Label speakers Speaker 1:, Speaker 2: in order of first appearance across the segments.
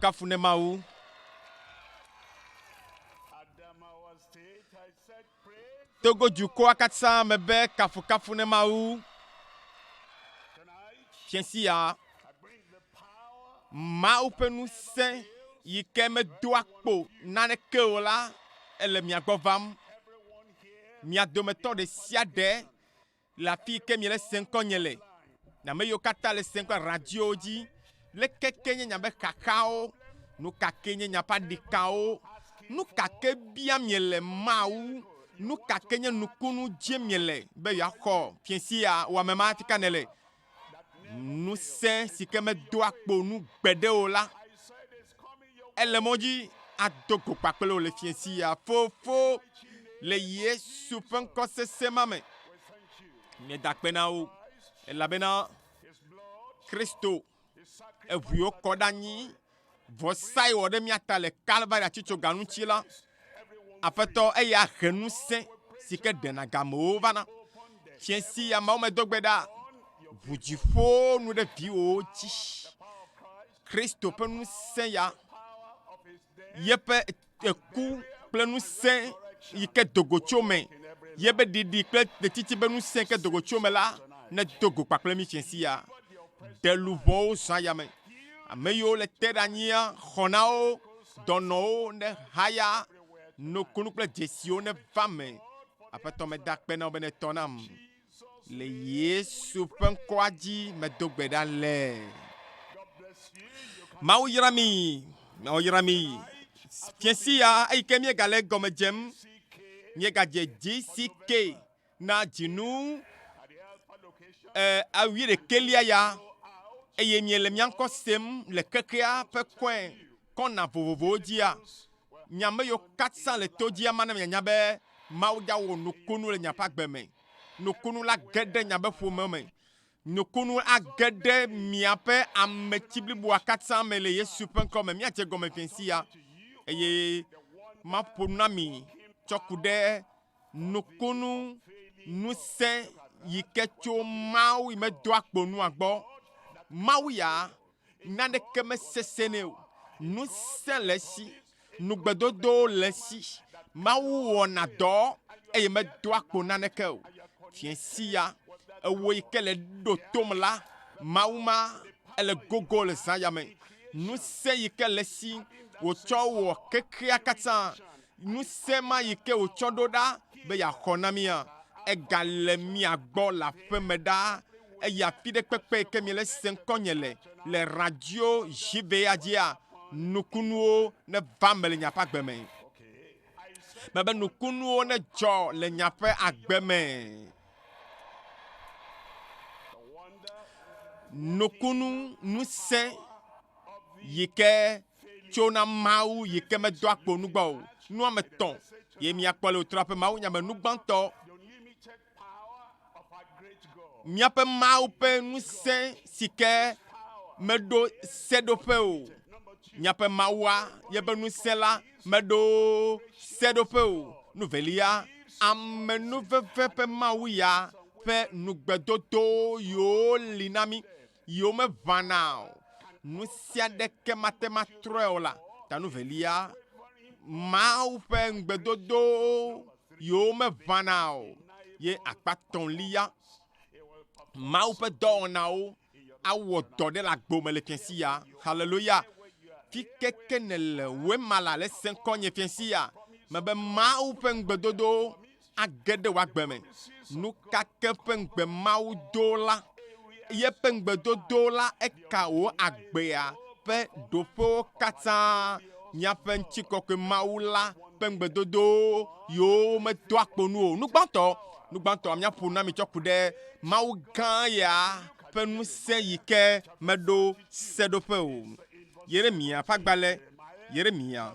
Speaker 1: kafu ne Mawu. Togo dukɔa katã me be kafukafu ne Mawu. Fiasi ya, Mawu ƒe ŋusẽ yi ke medoa kpo naneke o la ele mia gbɔ vam. Mia dometɔ ɖe sia ɖe Le afii ke miele sẽm kɔ nye le, nye ame yiwo katã le sẽm kple radiyowo dzi. Leke kee nye miaƒe xaxawo? Nu ka kee nye miaƒe aɖikawo? Nu ka ke bia miele Mawu? Nu ka ke nye nukunu dzie miele be yewoaxɔ fiẽ sia? Wò ame ma, afi ka nèle? ŋusẽ si ke medoa kpo nu gbeɖe o la, ele mɔ dzi ado go kpakple wò le fiẽ sia. Fofo, le Yesu ƒe ŋkɔ sesẽ ma me, meda akpe na wo, elabena Kristo, eŋui wokɔ ɖe anyi vɔsae wɔ ɖe mía ta le Kalvari atitsoga ŋuti la, Aƒetɔ, eya he ŋusẽ si ke ɖena gamewo vana. Fiẽ si ya Mawu medo gbe ɖa, ʋu dziƒo nu ɖe viwòwo dzi. Kristo ƒe ŋusẽ ya, yeƒe Eku kple ŋusẽ yi ke dogo tso me, yebe ɖiɖi kple ɖetiti be ŋusẽ ke dogo tso me la nedo go kpakple mí tsɛ sia. Ɖe luʋɔwo zɔa yame. Ame yiwo le te ɖe anyia xɔna wo, dɔnɔwo nehaya, nukunu kple dzesiwo neva me. Aƒetɔ meda akpe na wò be nètɔ nam. le Yesu ƒe ŋkɔa dzi medo gbe ɖa le. Mawu yra mi, Mawu yra mi. Fiesi ya eyi ke míegale gɔme dzem, míegadze JCK na dzinu eh, awi ɖekelia ya eye miele mía ŋkɔ sem le xexea ƒe kɔe kɔna vovovowo dzia, Nye ame yiwo katã le to dzi ama ne mianya be Mawu ya wɔ nukunu le nye ƒe agbe me. Nukunu la ge ɖe nye be ƒome me. Nukunu age ɖe miaƒe ametsi bliboa katã me le Yesu ƒe ŋkɔ me. Míadze egɔme ƒe sia eye maƒo nu na mi tsɔ ku ɖe nukunu ŋusẽ yi ke tso Mawu yi medoa kpo nua gbɔ. Mawu ya Naneke mesesẽnɛ o. Ŋusẽ le esi. Nugbedodowo le esi. Mawu wɔna dɔ eye medoa kpo naneke o. Fiẽ sia ewɔ yi ke le ɖo tom la, Mawu ma, ele gogo le zã ya me. Ŋusẽ yi ke le esi wòtsɔ wɔ xexea katã Ŋusẽ ma yi ke wòtsɔ ɖo ɖa be yeaxɔ na mía, egale mia gbɔ le aƒe me ɖaa, eye afi ɖe kpekpe yi ke miele se ŋkɔnye le, le radio Ʒiveya dzia, nukunuwo neva eme le nye ƒe agbe me. Mebe nukunuwo nedzɔ le nye ƒe agbe me. Nukunu ŋusẽ yi ke. tso na Mawu yi ke medoa kpo nu gbɔ o. Nuametɔ̃ ye miakpɔ le wotrɔa ƒe mawunya me. Nugbãtɔ, míaƒe Mawu ƒe ŋusẽ si ke meɖo seɖoƒe o. Míaƒe Mawua ye ƒe ŋusẽ la meɖo seɖoƒe o. Nu velia, amenuveve ƒe Mawu ya ƒe nugbedodo yiwo li na mí. yi womeʋãna o, nu sia ɖeke mate ŋu atrɔe o la ta. Nu velia, Mawu ƒe ŋugbedodo yi womeʋãna o, ye akpa etɔ̃lia, Mawu ƒe dɔwɔnawo awɔ dɔ ɖe le agbo me le fiasia. Haleluya! Fike ke nèle wema la le se ŋkɔ nye fiasia, mebe Mawu ƒe ŋugbedodo age ɖe wò agbe me. Nu ka ke ƒe ŋugbe Mawu do la? Yeƒe ŋugbedodo la eka wò agbea ƒe ɖoƒewo katã. Míaƒe ŋutikɔkɔe Mawu la ƒe ŋugbedodo yewo medoa kpo nu o. Nu gbãtɔ, nu gbãtɔ míaƒo na mi tsɔ ku ɖe Mawu gã ya ƒe ŋusẽ yi ke meɖo seɖoƒe o. Yeremya ƒe agbalẽ, Yeremya.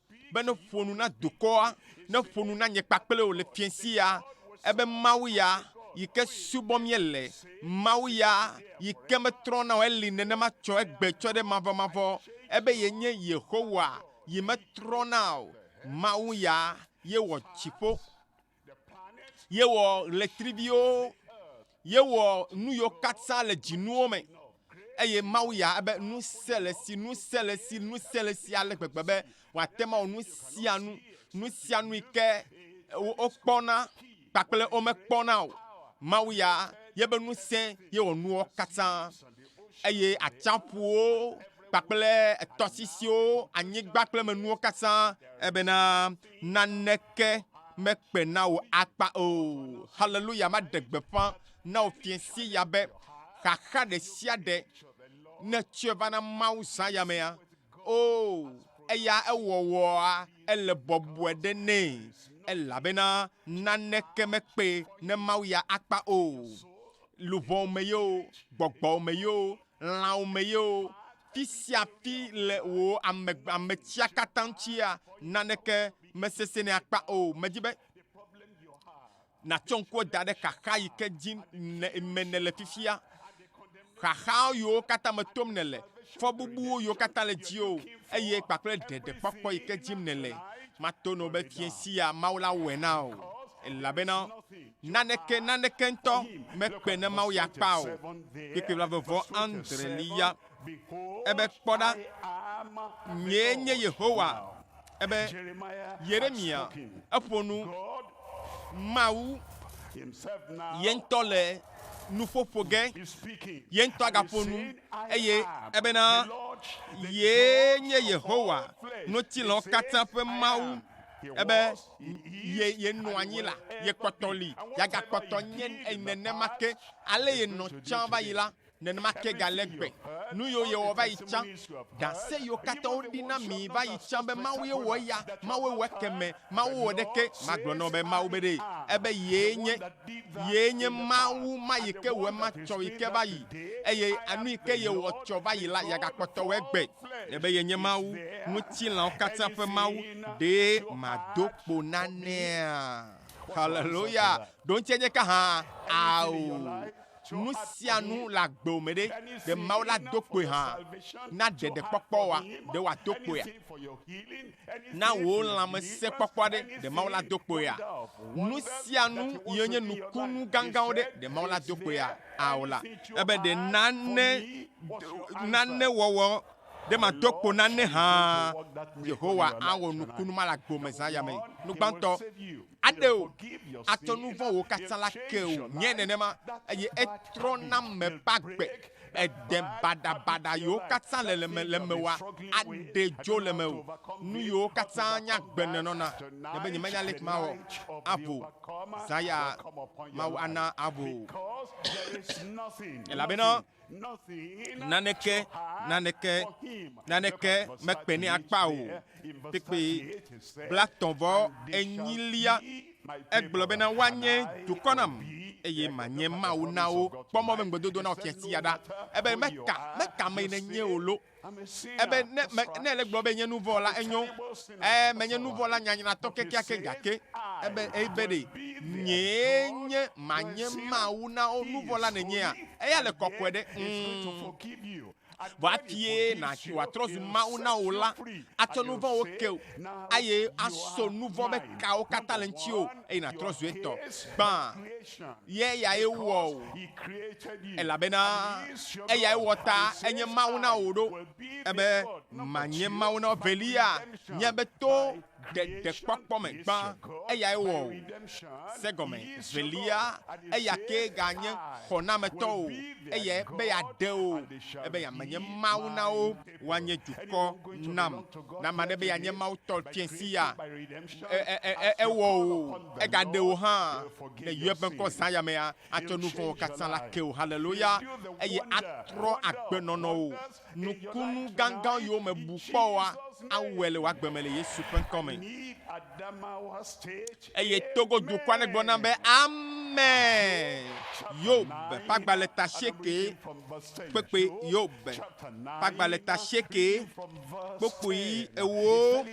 Speaker 1: Be ne ƒo nu na dukɔa, ne ƒo nu na nye kpakple wò le fiẽ si ya, ebe Mawu ya, yi ke subɔm míele, Mawu ya, yi ke metrɔna o, eli nenema tsɔ egbe tsɔ ɖe mavɔmavɔ, ebe yenye Yehowa, yi metrɔna o, Mawu ya, ye wɔ dziƒo. Yewɔ ɣletriviwo, yewɔ nu yiwo katã le dzinuwo me. Eye Mawu ya ebe nu sia le si, nu sia le si, nu sia le si ale gbegbe be wòate ŋu awɔ nu sia nu, nu sia nu yi ke wokpɔna kpakple womekpɔna o. Mawu ya yebe nu sẽ ye wɔ nuwo katã. Eye atsiaƒuwo kpakple etɔsisiwo, anyigba kple emenuwo katã ebena. naneke mekpe na wò akpa o. Haleluya! Maɖe gbeƒã na wò fiẽsie ya be, xaxa ɖe sia ɖe ne tsɔe va na Mawu zã ya mea, oo, eya ewɔwɔa, ele bɔbɔe ɖe nɛ, elabena naneke mekpee ne Mawu ya akpa o. Luʋɔwo me yoo, gbɔgbɔwo me yoo, lãwo me ye o, fi sia fi le wò ame ametsia katã ŋutia, naneke mesesẽnɛ akpa o. Medi be nàtsɔ ŋkua da ɖe xaxa yi ke dzi me nèle fifia, xaxa yiwo katã me tom nèle, fɔbubuwo yiwo katã le dziwò, eye kpakple ɖeɖekpɔkpɔ yi ke dim nèle. Mato na wò be fiẽ sia Mawu la wɔe na wò, elabena. Naneke, naneke ŋutɔ mekpe ne Mawu ya kpa o. Kpekpe blavevɔ andre li ya. Ebe, Kpɔ ɖa, nyee nye Yehowa. Ebe, Yeremia, eƒo nu. Mawu ye ŋutɔ le nuƒo ƒo ge. Ye ŋutɔ agaƒo nu. Eye ebena, Yee nye Yehowa, ŋutilɔwo katã ƒe Mawu. Ebe, ye yenɔ anyi la, yekpɔtɔ li, yagakpɔtɔ nye nenema ke. Ale yenɔ tsã va yi la, nenema ke gale gbe. Nu yiwo yewɔ va yi tsã, ɖase yiwo katã woɖi na mi va yi tsã be Mawue wɔ eya, Mawue wɔ ekemɛ, Mawu wɔ ɖeke, magblɔ na wò be Mawu be ɖee, ebe yee nye. Yee nye Mawu ma yi ke wòe matsɔ yi ke va yi, eye anu yi ke ye wòtsɔ va yi la, yeagakpɔtɔ wɔ egbɛ. Ne be yenye Mawu, ŋutilãwo katã ƒe Mawu, ɖee mado kpo nanea? Haleluya! Ɖoŋtsia nye ka hã? Ao! nu sia nu le agbewo me ɖe, ɖe Mawu la do kpoe hã na ɖeɖekpɔkpɔ wa? Ɖe wòado kpoea? Na wò lãmesẽkpɔkpɔ ɖe, ɖe Mawu la do kpoea? Nu sia nu yiwo nye nukunu gãgãwo ɖe, ɖe Mawu la do kpoea? Ao la, ebe ɖe nane, nane wɔwɔ ɖe mado kpo nane hã. Yehowa awɔ nukunu ma le agbewo me zã yamee. Nu gbãtɔ, aɖe o, atsɔ nu vɔ̃wò katã la ke o, nye nenema, eye etrɔ na me ƒe agbe, ede baɖabaɖa yiwo katã le le me le mewòa, aɖe dzo le mewò, nu yiwo katã nye agbe nènɔna le be nyemenya aleke mawɔ aʋu o, zã ya Mawu ana aʋu o, elabena Naneke, naneke, naneke mekpenɛ akpa o kpekpe. Blatɔ vɔ enyilia, egblɔ bena woanye dukɔ nam eye manye Mawu na wo. Kpɔ mɔ be ŋugbedodo na wò fiasia ɖa. Ebe meka, meka me nènye o lo. Ebe ne, me, ne ele gblɔ be nye nu vɔ̃ la, enyo. Ẽ, menye nu vɔ̃la nyanyratɔ kekeake, gake ebe, ebe ɖe nyee nye manye Mawu na wo nu vɔ̃la nènyea? Eya le kɔkɔe ɖe? Ŋm. Vɔ hafie na, wòatrɔ zu Mawu na wò la, atsɔ nu vɔ̃wo ke wò, eye aso nu vɔ̃ be kawo katã le ŋutiwò, eye nàtrɔ zu etɔ gbã. ye yae wɔ wò, elabena eyae wɔ ta enye Mawu na wò ɖo, ebe manye Mawu na velia nye be to ɖeɖekpɔkpɔ me gbã eyae wɔ wò. Se gɔme velia, eya ke ganye xɔnametɔ o, eyae be yeaɖe wò, ebe yeamenye Mawu na wo. woanye dukɔ nam. Ne ame aɖe be yeanye Mawu tɔ tse si ya, e, e, e, e, ewɔ wò, egaɖe wò hã le yeƒe ŋkɔ zã ya mea, atsɔ nu vɔ̃wo katã la ke wò. Haleluya! Eye atrɔ agbenɔnɔwò. Nukunu gãgãwo yiwo mebu kpɔ oa, awɔe le wò agbe me le Yesu ƒe ŋkɔ me. Eye Togo dukɔa ɖe gblɔ nam be, Amen. Yob ƒe agbalẽ ta sieke kpekpe Yob ƒe agbalẽ ta sieke kpokpui ewo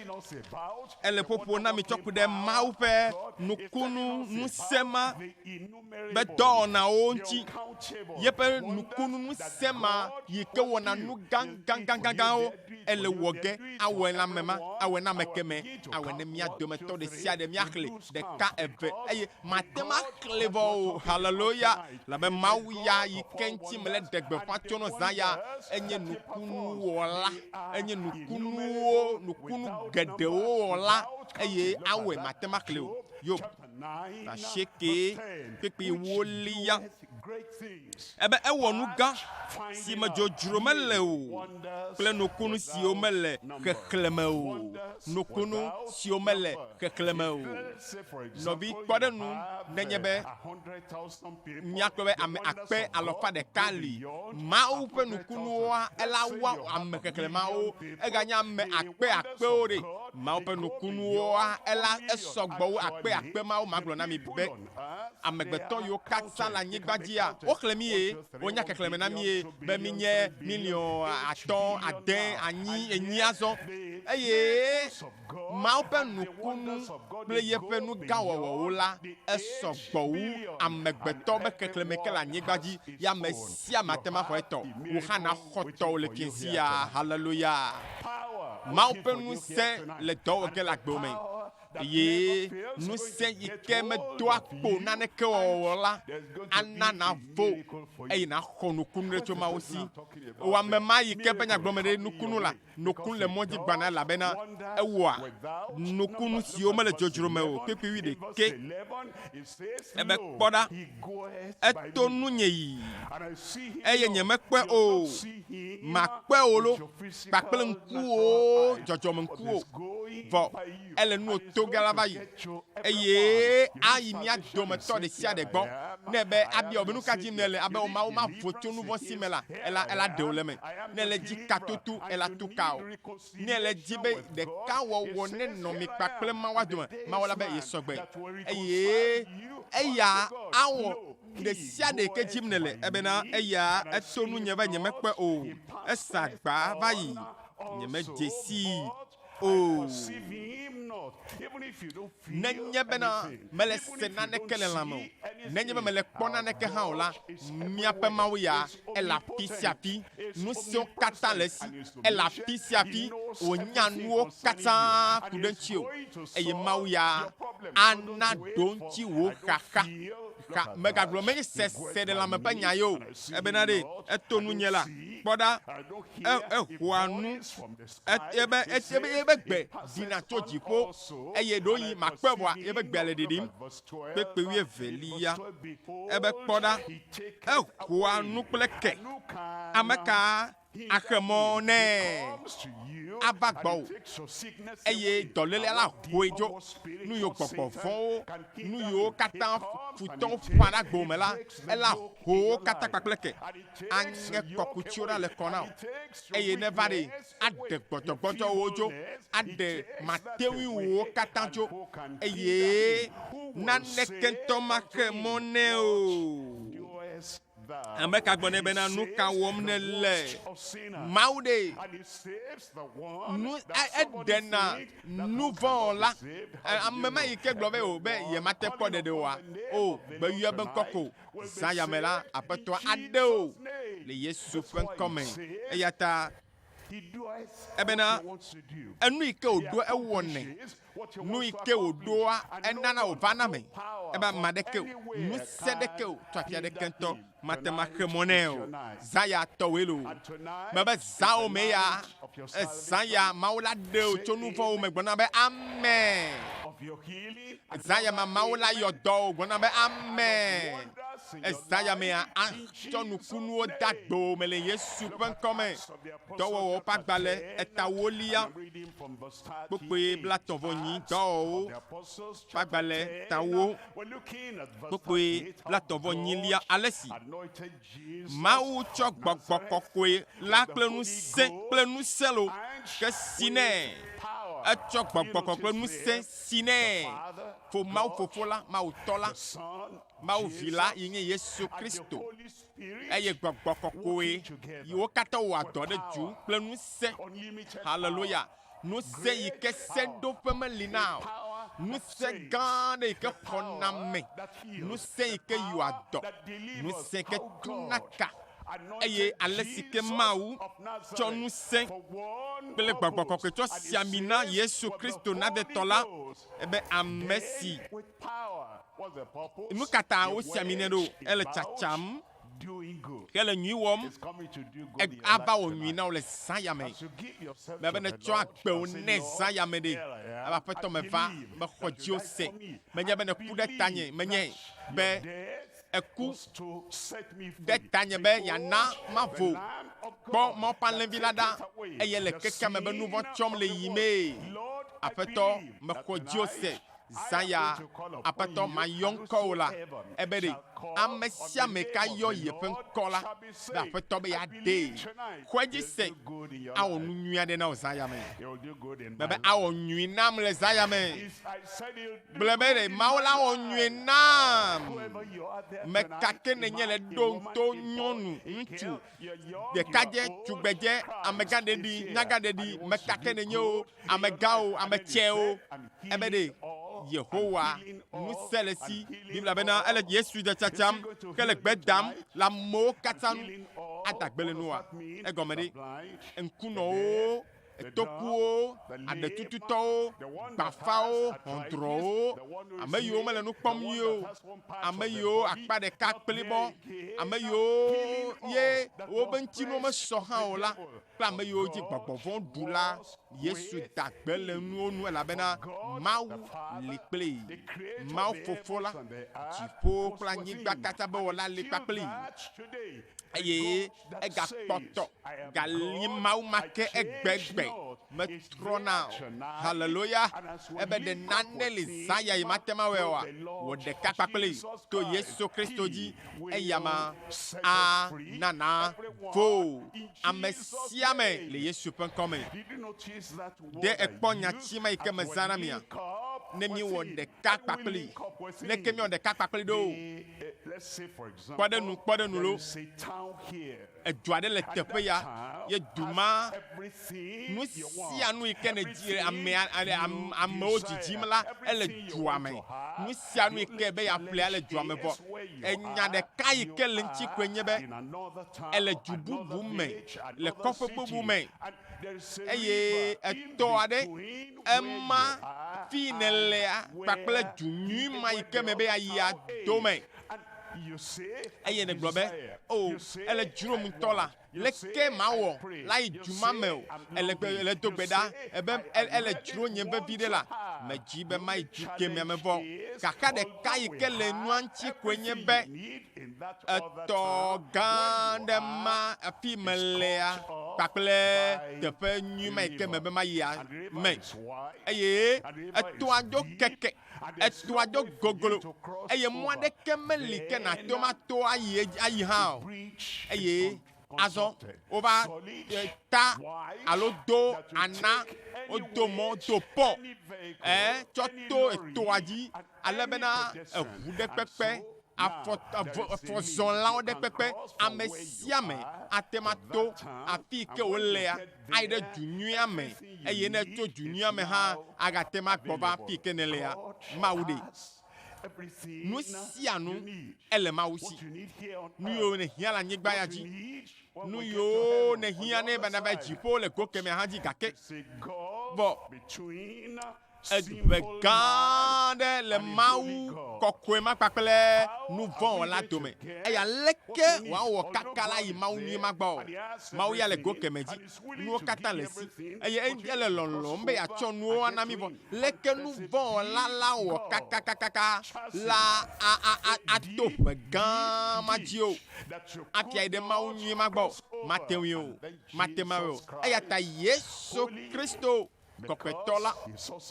Speaker 1: ele ƒoƒo na mi tsɔ ku ɖe Mawu ƒe nukunu ŋusẽ ma be dɔwɔnawo ŋuti, yeƒe nukunu ŋusẽ ma yi ke wɔna nu gãgãgãgãwo ele wɔ ge awɔe la me ma, awɔe na ame kemɛ, awɔe ne mía dometɔ ɖe sia ɖe míaxlẽ ɖeka eve, eye mate ŋu axlẽ vɔ o. Haleluya! Elabe Mawu ya yi ke ŋuti mele ɖe gbeƒã tso nɔ zã ya enye nukunuwɔla, enye nukunuwo, nukunu geɖewo wɔla, eye awɔe mate ŋu axlẽe o. Yob. asieke kpekpee woli ya. Ebe ewɔ nu gã si me dzodzro mele o kple nukunu siwo mele xexlẽme o, nukunu siwo mele xexlẽme o. Nɔvi, kpɔ ɖe nu nenye be Míakpɔe be ame akpe alɔfa ɖeka li. Mawu ƒe nukunuwoa, ela wua ame xexlẽmawo. Eganye ame akpe akpewo ɖe. Mawu ƒe nukunuwoa, ela esɔ gbɔ wu akpe akpe mawo. Magblɔ na mi be amegbetɔ yiwo katã le anyigba dzia, woxlẽ mí eye wonya xexlẽme na mí be mínye miliɔn atɔ̃, ade, anyi, enyi azɔ. Eye. Mawu ƒe nukunu kple yeƒe nu gã wɔwɔwo la, esɔ gbɔ wu amegbetɔ be xexlẽme ke le anyigba dzi ye ame sia ame ate ŋu axɔ etɔ. Wò hã nàxɔ tɔwò le fiẽ sia. Haleluya! Mawu ƒe ŋusẽ le dɔ wɔ ge le agbewo me eye ŋusẽ yi ke medoa kpo o naneke wɔwɔ la ana nàvo eye nàxɔ nukunu ɖe tso Mawu si. Wò ame ma yi ke ƒe nyagblɔmee ɖe nukunu la Nukun le mɔ dzi gbana elabena ewɔa nukunu siwo mele dzodzro me o kpekpewui ɖekɛ. Ebe, Kpɔ ɖa, eto nunye yi, eye nyemekpɔe o, màkpɔe o loo, kpakple ŋkuwòwo, dzɔdzɔmeŋkuwo. Vɔ. ele nuwò toge la va yi, eye ayi mía dometɔ ɖe sia ɖe gbɔ nɛ be abia wò be, Nuka dim nèle? Abe wò Mawu mavo tso nuvɔ̃ si me la, ela, ela ɖe wò le eme. Ne èle dzi ka tutu, ela tu ka wò. Ne èle di be ɖeka wɔwɔ nenɔ mi kpakple Mawua dome, Mawu la be yesɔgbe, eye Eya awɔ ɖe sia ɖe yike dim nèle, ebena Eya eto nunye be nyemekpɔe o, esa gbaa va yi, nyemedze sii Nenye bena mele se naneke le lãme o, nenye be mele kpɔ naneke hã o la, miaƒe Mawu ya, ele afi sia afi. Nu siwo katã le esi, ele afi sia afi. Wònya nuwo katã ku ɖe ŋutiwò. Eye Mawu ya ana ɖo ŋuti wò xaxa. Xa, megagblɔ meseseɖelãme ƒe nya ye o. Ebena ɖe eto nunye la, kpɔ ɖa, e, ehoa nu. Etie be etie be yebe gbe ɖina tso dziƒo, eye ɖoyi makpɔe vɔa yebe gbea le ɖiɖim. Kpekpe wuievelia, ebe kpɔ ɖa, ehoa nu kple ke. Ameka axe mɔ nɛ ava gbɔwò, eye dɔlélia la hoe dzo? Nu yiwo gbɔgbɔ vɔ̃wo, nu yiwo katã futɔwo ƒã ɖe agbo me la, ela ho wo katã kpakple ke. aŋe kɔkuti ɖa le kɔ na wò, eye neva ɖe aɖe gbɔdzɔgbɔdzɔ wò dzo, aɖe mateŋui wò katã dzo, eye naneke ŋutɔ maxe mɔ nɛ o. Ame ka gblɔ nɛ bena, Nu ka wɔm nèle? Mawu ɖee. Nu eɖena nu vɔ̃ wɔla. Ame ma yi ke gblɔ be o be yemate kpɔ ɖeɖe oa, o, gbeyɔe be ŋkɔ ko. Zã ya me la, Aƒetɔa aɖe wò le Yesu ƒe ŋkɔ me. Eya ta ebena enu yi ke wòɖoa ewɔnɛ, nu yi ke wòɖoa enana wòvana me. Ebe ame aɖeke o, ŋusẽ ɖeke o, tso afi aɖeke ŋutɔ mate ŋu axe mɔ nɛ o. Zã ya tɔwoe loo. Mebe zãwò me ya, zã ya Mawu la ɖe wò tso nu vɔ̃wo me gblɔna be, Amen. Ezaya ma Mawu la yɔ dɔ o gblɔna be ame. Ezaya mea atsɔ nukunuwo de agbo me le Yesu ƒe ŋkɔ me. Dɔwɔwɔwo ƒe agbalẽ etawolia kpokpui blatɔ̃ vɔ nyi dɔwɔwɔwo ƒe agbalẽ tawo kpokpui blatɔ̃ vɔ nyilia ale si Mawu tsɔ gbɔgbɔ kɔkɔe la kple ŋusẽ kple ŋusẽ lo ke si nɛ. Etsɔ gbɔgbɔ kɔkɔe ŋusẽ si nɛ fo Mawu Fofo la, Mawu Tɔ la, Mawu Vi la yi nye Yesu Kristo eye gbɔgbɔ kɔkɔe yi wo katã wɔa dɔ ɖe dzu kple ŋusẽ. Haleluya! Ŋusẽ yi ke seɖoƒe meli na o. Ŋusẽ gã aɖe yi ke xɔname. Ŋusẽ yi ke yɔa dɔ. Ŋusẽ ke tuna ka. Eye ale si ke Mawu tsɔ ŋusẽ kple gbɔgbɔ kɔkɔe tsɔ si ami na Yesu Kristo Nazarɛtɔ la, ebe ame si. Nu ka ta wosi ami nɛ ɖo? Ele tsatsam. Ke le nyui wɔm, ava wɔ nyui na wò le zãya me. Mele be nètsɔ agbe wò nɛ zãya me ɖe. Ava Aƒetɔ me va, mexɔ dziwò se. Menye be nèku ɖe tanye menye be èku ɖe tanye be yeana mavo kpɔ Mawu ƒe alẽvi la ɖa, eye le kekea me be nu vɔ̃ tsɔm le yiyimee. Aƒetɔ, mexɔ dziwò se. Zã ya, Aƒetɔ, mayɔ ŋkɔwò la, ebe ɖe amesiame ka yɔ yeƒe ŋkɔ la, be Aƒetɔ be yeaɖee. Xɔe dzi se, awɔ nu nyui aɖe na wò zã ya me. Mebe awɔ nyui nam le zã ya me. Gblɔe be ɖe Mawu la awɔ nyui nam. Meka ke nènye le ɖo ŋto, nyɔnu, ŋutsu, ɖekadze, tugbedze, amegãɖeɖi, nyagãɖeɖi, meka ke nènye o, amegãwo, ame tsɛwo, ebe ɖe Yehowa ŋusẽ le si. Biblia bena ele Yesu de tsatsam ke le gbe dam le amewo katã nu ada gbe le nua. Egɔme ɖe, ŋkunɔwo etokuwo, aɖetututɔwo, gbafawo, xɔndrɔwo, ame yiwo mele nu kpɔm nyuie o, ame yiwo akpa ɖeka kplibɔ, ame yiwo ye wobe ŋutinuwo mesɔ hã o la, kple ame yiwo dzi gbɔgbɔ vɔ̃ ɖu la, Yesu da gbe le nuwo nu elabena Mawu li kplii. Mawu Fofo la, dziƒowo kple anyigba katã be Wɔla li kpakplii eye egakpɔtɔ ganyi Mawu ma ke egbegbe metrɔna o. Haleloya! Ebe ɖe nane li zã ya yi mate mawɔe oa, wòɖeka kpakplii to Yesu Kristo dzi. eya ma a na na fo ame sia ame le Yesu ƒe ŋkɔ me. Ɖe ekpɔ nya tsi ma yi ke me zã na mia? Ne mi wɔ ɖeka kpakpli, ne ke mi wɔ ɖeka kpakpli ɖo, kpɔ ɖe nu, kpɔ ɖe nu lo. Edu aɖe le teƒe ya ye du ma nu sia nu yi ke ne dzi ame amewo dzidzim la ele dua me. Nu sia nu yi ke be yeaƒlea le dua me vɔ. Enya ɖeka yi ke le ŋuti koe nye be ele du bubu me le kɔƒe bubu me eye etɔ aɖe ema fi nèlea kpakple du nyui ma yi ke me be yeayi ado me. Eye nègblɔ be, O, ele dzrom ŋutɔ la, leke mawɔ la yi du ma me o? Ele gbe, ele do gbe ɖa be, E, ele dzro nyem veviɖe la, medi be mayi du kemɛ me vɔ. Xaxa ɖeka yi ke le nua ŋuti koe nye be, etɔ gã aɖe ma afi melea kpakple teƒe nyui ma yi ke mebe mayia me. Eye etɔa ɖo keke. Etɔa do goglo, eye mɔ aɖeke meli ke nàto ma to ayi edzi ayi hã o. Eye azɔ wova ta alo do ana wodo mɔ do pɔ ɛ tsɔ to etɔa dzi ale bena eŋu ɖe kpekpe, afɔ, afɔzɔlawo ɖe kpekpe, ame sia ame ate ŋu ato afii ke wolea. ayi ɖe du nyuia me, eye ne etso du nyuia me hã agate ŋu agbɔ va afi ke nèlea, Mawu ɖee. Nu sia nu ele Mawu si. Nu yiwo nèhiã le anyigba ya dzi, nu yiwo nèhiã nɛ be nava yi dziƒo le go kemɛ hã dzi gake kpɔ. Eɖi ʋe gã aɖe le Mawu kɔkɔe ma kpakple nu vɔ̃ wɔla dome. Eye aleke wòawɔ kaka la yi Mawu nyui ma gbɔ? Mawu ya le go kemɛ dzi. Nuwo katã le esi. Eye ele lɔlɔ̃m be yeatsɔ nuwo ana mí vɔ. Leke nu vɔ̃ wɔla la wɔ kakakakaka la a, a, a, ato ʋe gã ma dzi o, afiae ɖe Mawu nyui ma gbɔ? Mate ŋui o. Mate ŋui o. Eya ta Yesu Kristo. Kɔkɔetɔ la,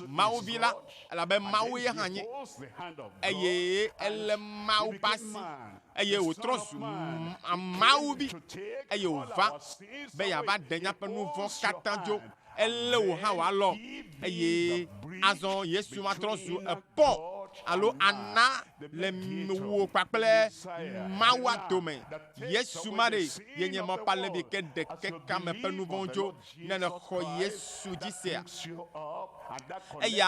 Speaker 1: Mawu Vi la, elabe Mawu ye hã nye, eye elé Mawu ƒe asi, eye wòtrɔ zu Mawu Vi, eye wòva be yeava ɖe míaƒe nu vɔ̃ katã dzo. Elé wò hã wò alɔ, eye azɔ Yesu va trɔ zu ekpɔ, alo ana le wò kpakple Mawua dome. Yesu ma ɖee, yenye mɔkpalẽvi ke ɖe kekea me ƒe nu vɔ̃wo dzo. ne nèxɔ Yesu dzi sea? Eya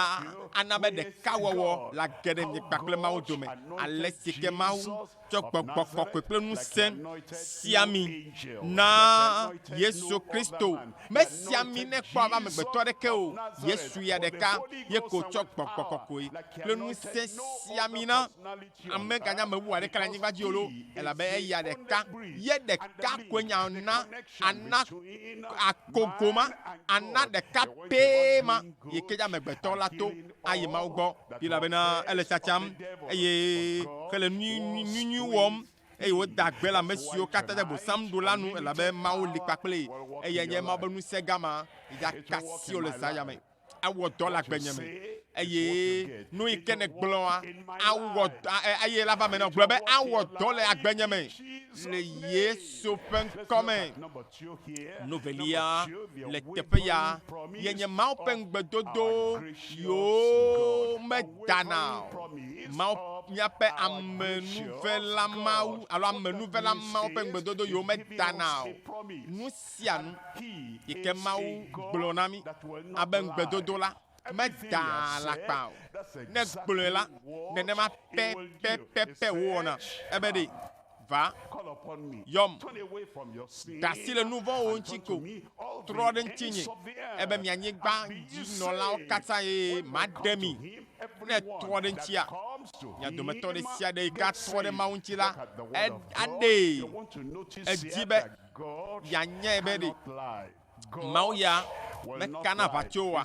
Speaker 1: ana be ɖekawɔwɔ lage ɖe nye kpakple Mawu dome, ale si ke Mawu tsɔ gbɔgbɔ kɔkɔe kple ŋusẽ sia mi na Yesu Kristo. Mesia mi ne kpɔ abe amegbetɔ aɖeke o. Yesu ya ɖeka ye ko tsɔ gbɔgbɔ kɔkɔe kple ŋusẽ sia mi na. Ame ganya me wu aɖeke le anyigba dzi o loo, elabe eya ɖeka ye ɖeka koe nye ana, ana akogo ma, ana ɖeka pɛ ma, yi ke nye amegbetɔ la to ayi Mawu gbɔ, elabena ele tsatsam eye hele nunyuinyuinyui wɔm, eye woda gbe le ame siwo katã dze Bosam ɖo la nu, elabe Mawu li kpakplii, eye enye Mawu be ŋusẽ gã ma, ya kasi wò le zã ya me. awɔ dɔ le agbenye me eye nu yi ke nègblɔa, awɔ dɔ eye la va me na gblɔ be awɔ dɔ le agbenye me le Yesu ƒe ŋkɔ me. Nu velia le teƒe ya ye nye Mawu ƒe ŋugbedodo yewo medana o. Mawu míaƒe amenuvela Mawu alo amenuvela Mawu ƒe ŋugbedodo yewo medana o. Nu sia nu yi ke Mawu gblɔ na mí abe ŋugbedodo la, medaa alakpa o. Ne gblɔe la, nenema pɛpɛpɛpɛ wòwɔna. Ebe ɖee, Va, yɔm. Ɖe asi le nu vɔ̃wòwo ŋuti ko. Trɔ ɖe ŋutinye, ebe mi anyigba dzi nɔlawo katã, eye maɖe mi. Ne ètrɔ ɖe ŋutia, mia dometɔ ɖe sia ɖe yi ke atrɔ ɖe Mawu ŋuti la, aɖee. Edi be Yeanyae be ɖe Mawu ya mekana aʋatso oa?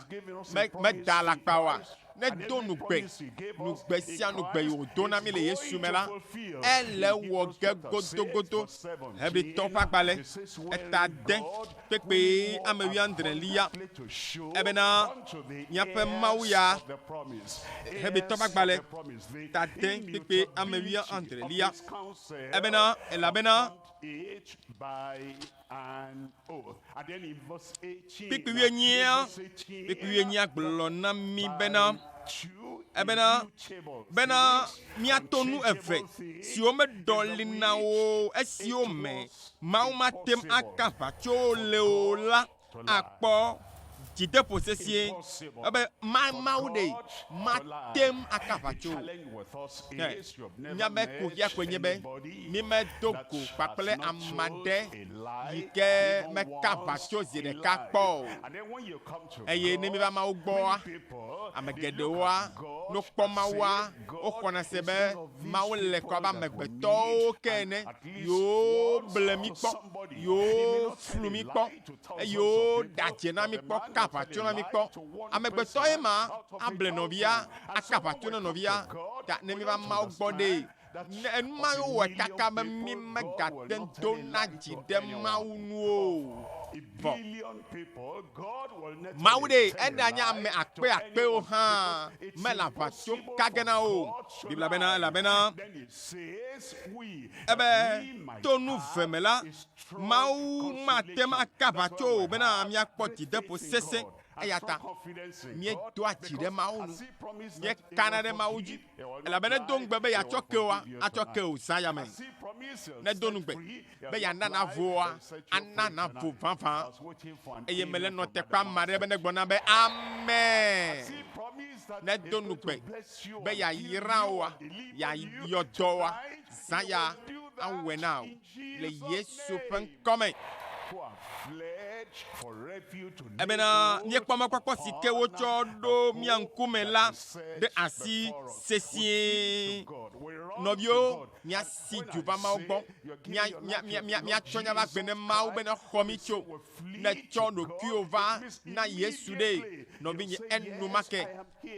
Speaker 1: Me, meda alakpa oa? Nedo nugbe, nugbe sia nugbe yi wòdo na mí le Yesu me la, ele wɔ ge godogodo. Hebritɔwo ƒe agbalẽ, eta ade kpekpee ame wuiadre li ya. Ebena, Míaƒe Mawu ya, Hebritɔwo ƒe agbalẽ, eta ade kpekpee ame wuiadre li ya. Ebena, elabena.
Speaker 2: Kpikpi wuienyia,
Speaker 1: kpikpi wuienyia gblɔ na mí bena, ebena, bena míato nu eve siwo meɖɔ li na wo o, esiwo me Mawu mate ŋu aka aʋatso le o la. akpɔ dzideƒo sesĩe ebe ma Mawu ɖee mate ŋu aka aʋatso o. Ke mía be kuxia koe nye be mí me do go kpakple ame aɖe yi ke me ka aʋatso zi ɖeka kpɔ o. Eye ne mí va Mawu gbɔa, ame geɖewoa no kpɔ Mawua. Woxɔna se be Mawu le kɔ abe amegbetɔwo ke ene, yewoble mí kpɔ, yewoflu mí kpɔ, eye woɖe adze na mí kpɔ, ka aʋatso na mí kpɔ. Amegbetɔe ma able nɔvia, aka aʋatso na nɔvia ta ne míeva Mawu gbɔ ɖee. Ne enu ma ye wowɔe kaka be mímegate ŋu dona dzi ɖe Mawu nu o. vɔ. Mawu ɖe enea nye ame akpe akpewo hã me le aʋa tso ka ge na wo. Biblia bena, Elabena ebe to nu ve me la, Mawu mate ŋu ake aʋa tso o bena míakpɔ dzideƒo sesẽ. Eya ta míedoa dzi ɖe Mawu nu, míekana ɖe Mawu dzi. Elabena edo ŋugbe be yeatsɔ keoa, atsɔ ke wò zã yame. Ne edo nugbe be yeana navoa, ana navo vavã. Eye mele nɔtekpa ame aɖe be negbɔ na be, Amen. Ne edo nugbe be yeayra woa, yeayɔ dɔa, zã ya awɔe na wò. le Yesu ƒe ŋkɔ me. Ebena míekpɔ mɔkpɔkpɔ si ke wotsɔ ɖo mía ŋkume la ɖe asi sesĩe. Nɔviwo, míasi dzo va Mawu gbɔ. Míatsɔ nya va gbe ne Mawu be nexɔ mí tso. Ne ètsɔ ɖokuiwò va na Yesu ɖee, nɔvinye, enumake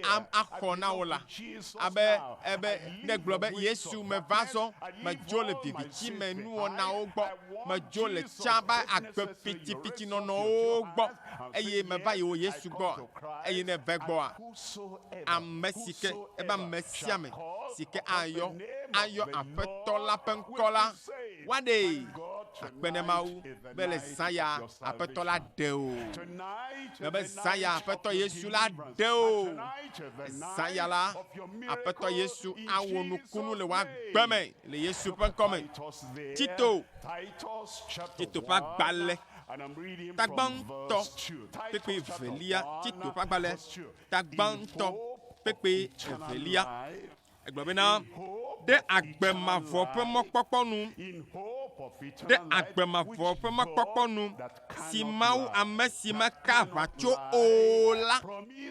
Speaker 1: am axɔ na wò la, abe ebe nègblɔ be, Yesu, meva zɔ, medzo le viviti me nuwɔnawo gbɔ, medzo le tsã va agbe pitipiti nɔnɔwo gbɔ, eye meva yi wò Yesu gbɔa? Eye ne èva egbɔa, ame si ke, ebe ame sia ame si ke ayɔ, ayɔ Aƒetɔ la ƒe ŋkɔ la, woaɖee. Akpe ɖe Mawu. be le zã ya Aƒetɔ la ɖe o. Be be zã ya Aƒetɔ Yesu la ɖe o. Zã ya la, Aƒetɔ Yesu awɔ nukunu le woagbe me le Yesu ƒe ŋkɔ me. Tito, Tito ƒe agbalẽ, tagbãtɔ, kpekpe evelia, Tito ƒe agbalẽ, tagbãtɔ, kpekpe evelia. Egblɔ bena, Ɖe agbe mavɔ ƒe mɔkpɔkpɔ nu, ɖe agbe mavɔ ƒe mɔkpɔkpɔ nu, si Mawu ame si meka aʋatso o la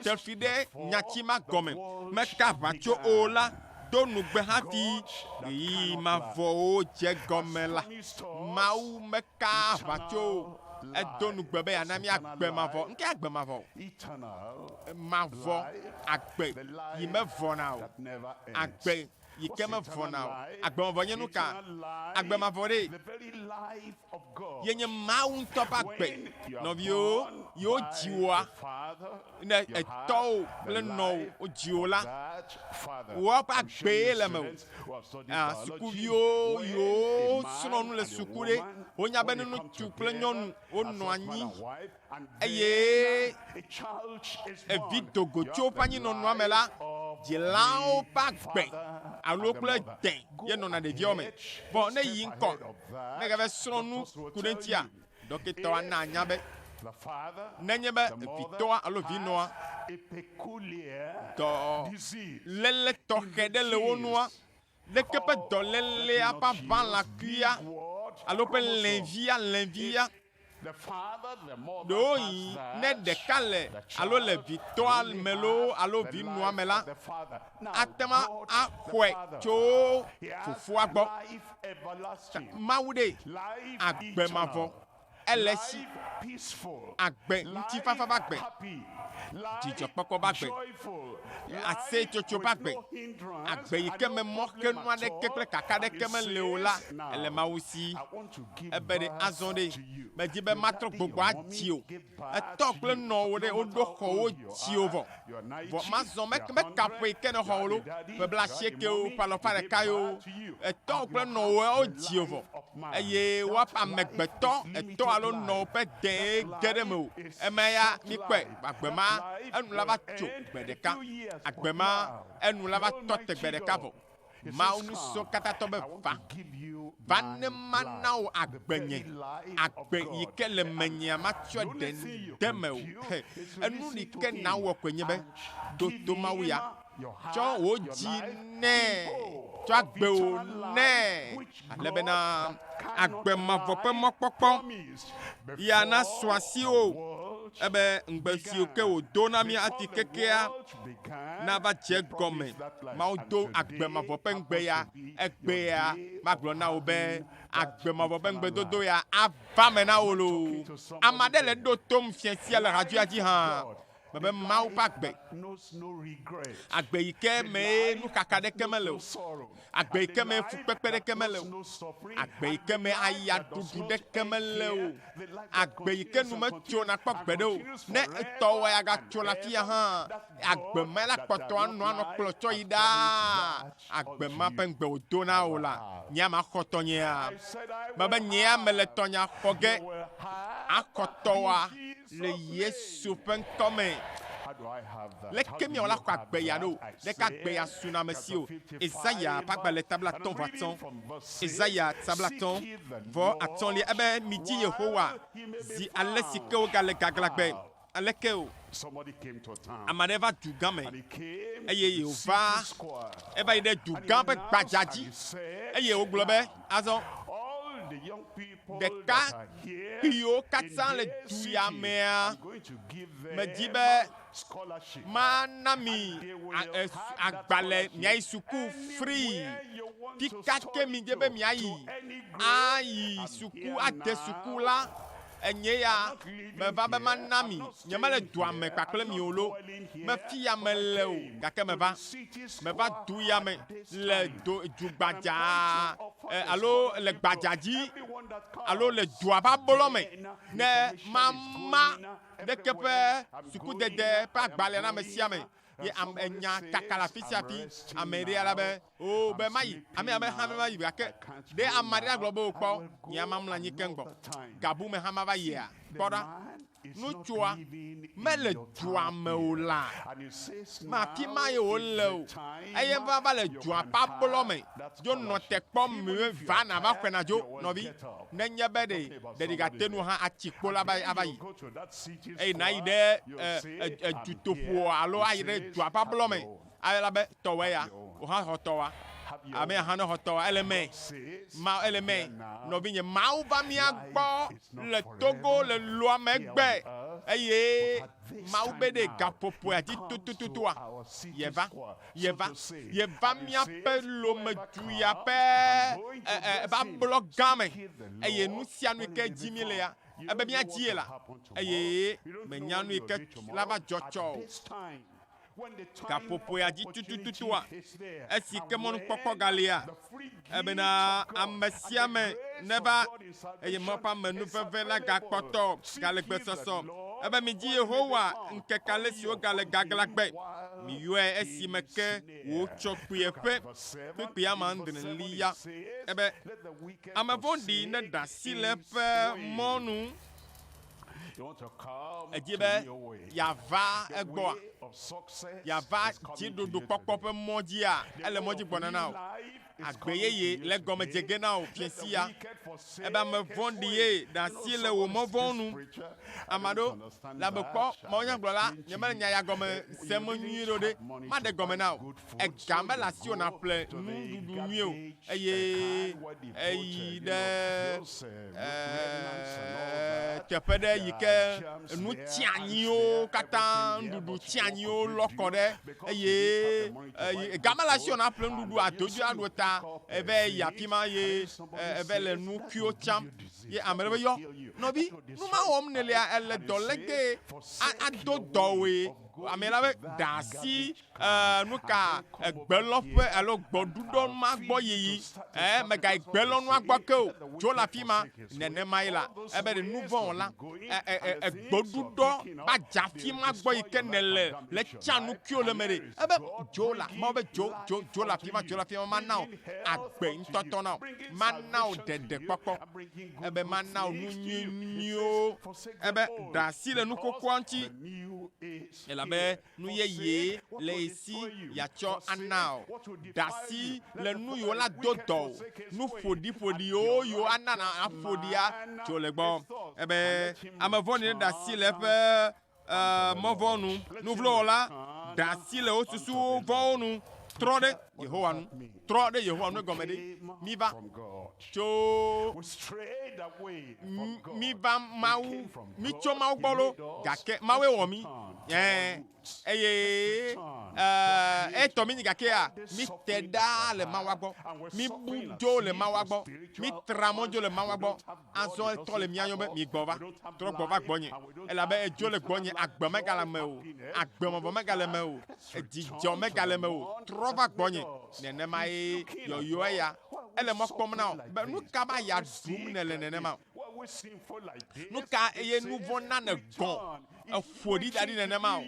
Speaker 1: te fi ɖe nyati ma gɔme, meka aʋatso o la do nugbe hafi ɣeyiɣi mavɔwo dze gɔme la, Mawu me. Kaa aʋa tso wo. Edo nu gbe be yeana mí agbe mavɔ. Ŋkee agbe mavɔ o. Mavɔ, agbe yi mevɔna o. Agbe yi ke mevɔna o. Agbe mavɔ nye nu ka? Agbe mavɔ ɖee ye nye Mawu ŋutɔ ƒe agbe. Nɔviwo, yi wodzi woa, ne etɔwo kple nɔwo wodzi wò la, wò ƒe agbee le mewò. Ah, sukuviwo yiwo srɔ̃ nu le suku ɖe, wonya be ne ŋutsu kple nyɔnu wonɔ anyi eye evi do go tso woƒe anyinɔnɔa me la, dzilawo ƒe agbe alo kple dẽ ye nɔna ɖeviawo me. Vɔ ne yi ŋkɔ ne gave srɔ̃ nu ku ɖe eŋutia, Ɖɔkitɔa naa nya be nenye be vitɔa alo vinɔa dɔléle tɔxɛ ɖe le wo nua, leke ƒe dɔlélea ƒe aʋalã kuia alo ƒe lɛnvia, lɛnvia, ɖewohĩ ne ɖeka le alo le vitɔa me loo alo vinɔa me la, ate ŋu axɔe tso Fofoa gbɔ. Mawu ɖee, agbe mavɔ, ele esi, agbe ŋutifafa ƒe agbe, dzidzɔkpɔkpɔ ƒe agbe, aseyetsotso ƒe agbe, agbe yi ke me mɔxenu aɖeke kple kaka aɖeke meli o la, ele Mawu si. Ebe ɖe, azɔ ɖe, medi be matrɔ gbɔgbɔ adziwò. Etɔ kple nɔwo ɖe woɖo xɔ wo dziwo vɔ, vɔ mazɔ me me kaƒoe ke ne xɔ wo lo, ƒe bla sieke wo, ƒe alɔfa ɖeka yo, etɔ kple nɔwo wo dziwo vɔ, eye woaƒe amegbetɔ etɔ alo nɔwo ƒe dee ge ɖe mewò, eme ya mi kpɔe, agbe ma enu la va tso gbe ɖeka, agbe ma enu la va tɔ te gbe ɖeka vɔ. Mawu ŋusẽkatãtɔ be, Va, va ne mana wò agbe nye, agbe yi ke le menyea matsɔ ɖe de mewò. He, enu yi ke nàwɔ koe nye be, ɖo to Mawu ya, tsɔ wò dzi nɛ, tsɔ agbe wò nɛ, ale bena agbe mavɔ ƒe mɔkpɔkpɔ ya nasu asiwò. Ebe ŋugbe siwo ke wòdo na mí hafi kekea nava dze gɔme Mawu do agbe mavɔ ƒe ŋugbe ya, egbea magblɔ na wò be agbe mavɔ ƒe ŋugbedodo ya ava me na wò loo. Ame aɖe le ɖo tom fia sia le hadzoea dzi hã be Mawu ƒe agbe, agbe yi ke mee nuxaxa aɖeke mele o. Agbe yi ke me fukpekpe ɖeke mele o. Agbe yi ke me ayaɖuɖu ɖeke mele o. Agbe yi ke nu metso nakpɔ gbeɖe o. Ne etɔwòe agatso le afia hã, agbe mae la kpɔtɔ anɔ anɔ kplɔ tsɔ yi ɖaa. Agbe ma ƒe ŋugbe wòdo na wò la, nyea maxɔ tɔnyea? Mebe nyea mele tɔnyea xɔ ge axɔ tɔwòa. Le Yesu ƒe ŋkɔ me. Leke míawɔ la xɔ agbe ya ɖo? Ɖeka agbe ya suna ame si o. Esaya ƒe agbalẽ ta blatɔ̃ vɔ atɔ̃. Esaya ta blatɔ̃ vɔ atɔ̃lia ebe, Midi Yehowa zi ale si ke wogale gaglãgbe. Aleke o? Ame aɖe va du gã me eye wòva eva yi ɖe du gã ƒe gbadza dzi eye wògblɔ be, Azɔ. ɖeka kpuiwo katã le du ya mea, medi be mana mi agbalẽ miayi suku free. Fi ka ke midi be miayi ayi suku ade suku la, enye ya meva be mana mi. Nyemele dua me kpakple mi o loo, be fi ya mele o, gake meva. Meva du ya me. le do du gbadzaa eh, alo le gbadza dzi alo le dua ƒe ablɔ me ne mama ɖeke ƒe sukudede ƒe agbalẽ na ame sia ame ye ame nya kaka le afi sia afi ame ɖe ala be o oh, be mayi ame ame hã ma yi gake ɖe ame aɖe agblɔ be wokpɔ nye ama mla anyi keŋ gbɔ gabu me hã ma va yia kpɔ ɖa Nutsua mele dua me o la, me afi mae wòle o, eye va va le dua ƒe ablɔ me dzo nɔ te kpɔm mime va na va xɔena dzo nɔvi, nenye be ɖe ɖeɖi gate nu hã atsi kpo la be ava yi, eye nayi ɖe e, e, e, dutoƒoa alo ayi ɖe dua ƒe ablɔ me Ayɔla be tɔwɔe ya o hã xɔ tɔwa. Ame ya hã ne xɔ tɔwa ele mɛ. Ma ele mɛ nɔvinye Mawu va mía gbɔ le Togo le loa me gbe eye Mawu be ɖe gaƒoƒoea dzi tutututua ye va ye va ye va mía ƒe lome du ya ƒe e e e va blɔ gã me eye nu sia nu yike dzi mí lea ebe mía dzi ye la eye me nya nu yike la va dzɔ tsɔ o. gaƒoƒoea dzi tutututua, esi ke mɔnukpɔkpɔ galia, ebena ame sia ame neva, eye Mawu ƒe ame nu veve la gakpɔtɔ gale gbesɔsɔ. Ebe midzi Yehowa ŋkeke ale si wogale gaglãgbe, miyɔe esime ke wòtsɔ kpuie ƒe kpekpe amadreli ya. Ebe ame vɔ̃ɖi neɖe asi le eƒe mɔ nu. Èdi be yeava egbɔa? Yeava dziɖuɖukpɔkpɔ ƒe mɔ dzia? Ele mɔ dzi gbɔna na wò. Agbe yeye le egɔme dze ge na wò, Fia sia. Ebe ame vɔ̃ɖi ye ɖe asi le wò mɔ vɔ̃wo nu. Ame aɖewo le abe, Kpɔ, mawunyagblɔla, nye mele nya ya gɔme sem nyuie ɖe o ɖe, maɖe egɔme na wò. ega mele asiwò nàƒle nuɖuɖu nyuie o, eye èyi ɖe teƒe ɖe yi ke nu tianyiwo katã, nuɖuɖu tianyiwo lɔ kɔ ɖe, eye ega mele asiwò nàƒle nuɖuɖu ado dzi aɖo ta, eva yi afi ma eye eva le nu kuiwo tsam. Ye ame ɖe be, Yɔ, nɔvi, nu ma wɔm nèlea, èle dɔ legbe, ado dɔwòe. Ame la be, Ɖe asi Ẽ, nu ka egbe lɔ ƒe alo gbɔɖuɖɔ ma gbɔ yiyi? Ẽ, mègayi gbe lɔ nua gbɔ ke o. Tso le afi ma. Nenemae la, ebe ɖe nu vɔ̃ wɔla egbɔɖuɖɔ va dze afi ma gbɔ yi ke nèle le tsã nukuiwo le eme ɖe, ebe dzo la, Mawu be dzo, dzo, dzo le afi ma, dzo le afi ma, mana wò agbe ŋutɔtɔ na wò. Mana wò ɖeɖekpɔkpɔ. Ebe mana wò nu nyui nyuiwo. Ebe ɖe asi le nu xoxoa ŋuti. Elabe Nu yeye le ye si yeatsɔ ana o. Ɖasi le nu yewo la do dɔ o. Nu ƒoɖiƒoɖiwo yewo ana na aƒo ɖia tso le gbɔ. Ebe ame vɔ̃ɖi neɖe asi le eƒe e, mɔ vɔ̃wo nu. Nu vlo wɔla ɖe asi le wo susuwo vɔ̃wo nu. Trɔ ɖe Yehowa nu. Trɔ ɖe Yehowa nu egɔme ɖe, Miva tso, miva Mawu, mitso Mawu gbɔ loo, gake Mawue wɔ mí, ɛ̃, eye etɔ míenyi, gakea míte ɖa le Mawua gbɔ, míbu dzo le Mawua gbɔ, mítra mɔ dzo le Mawua gbɔ, Azɔ etɔ le mia yɔm be, Migbɔ va, trɔ gbɔ va gbɔnye, elabe edzo le gbɔnye, agbe megale eme o, agbemɔvɔ̃ megale eme o, dzidzɔ megale eme o. Trɔ va gbɔnye. Nenemae yɔyɔa ya. Ele mɔ kpɔm na wò be, Nu ka be aya ɖum nèle nenema? Nu ka ye nu vɔ̃ na nègɔ̃? eƒo ɖi da ɖi nenema o.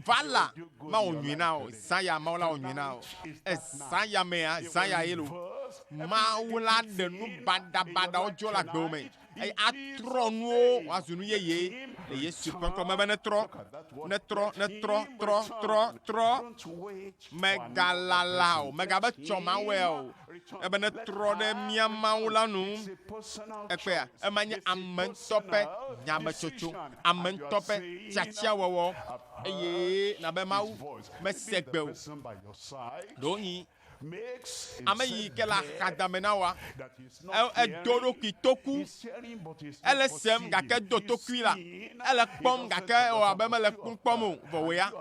Speaker 1: Va la, mawɔ nyui na o. Zã ya, Mawu la wɔ nyui na o. Ezã ya mea, zã ya ye lo. Mawu la ɖe nu baɖabaɖawo dzɔ le agbewo me eye atrɔ nuwo wòazu nu yeye le Yesu ƒe ŋkɔ me be netrɔ, netrɔ, netrɔ, trɔ, trɔ, trɔ. Mègalala o, mègabe tsɔ mawɔea o, ebe nètrɔ ɖe mía Mawu la nu. Èkpɔea? Ema nye ame ŋutɔ ƒe nyametsotso, ame ŋutɔ ƒe tiatiawɔwɔ. Eye na be Mawu mese gbe o. Ɖewohĩ ame yi ke le axadame na wòa? Edo eɖokui toku. Ele sem gake edo tokui la. Ele kpɔm gake ewɔ abe mele kpɔ kpɔm o. Vɔ wò ya,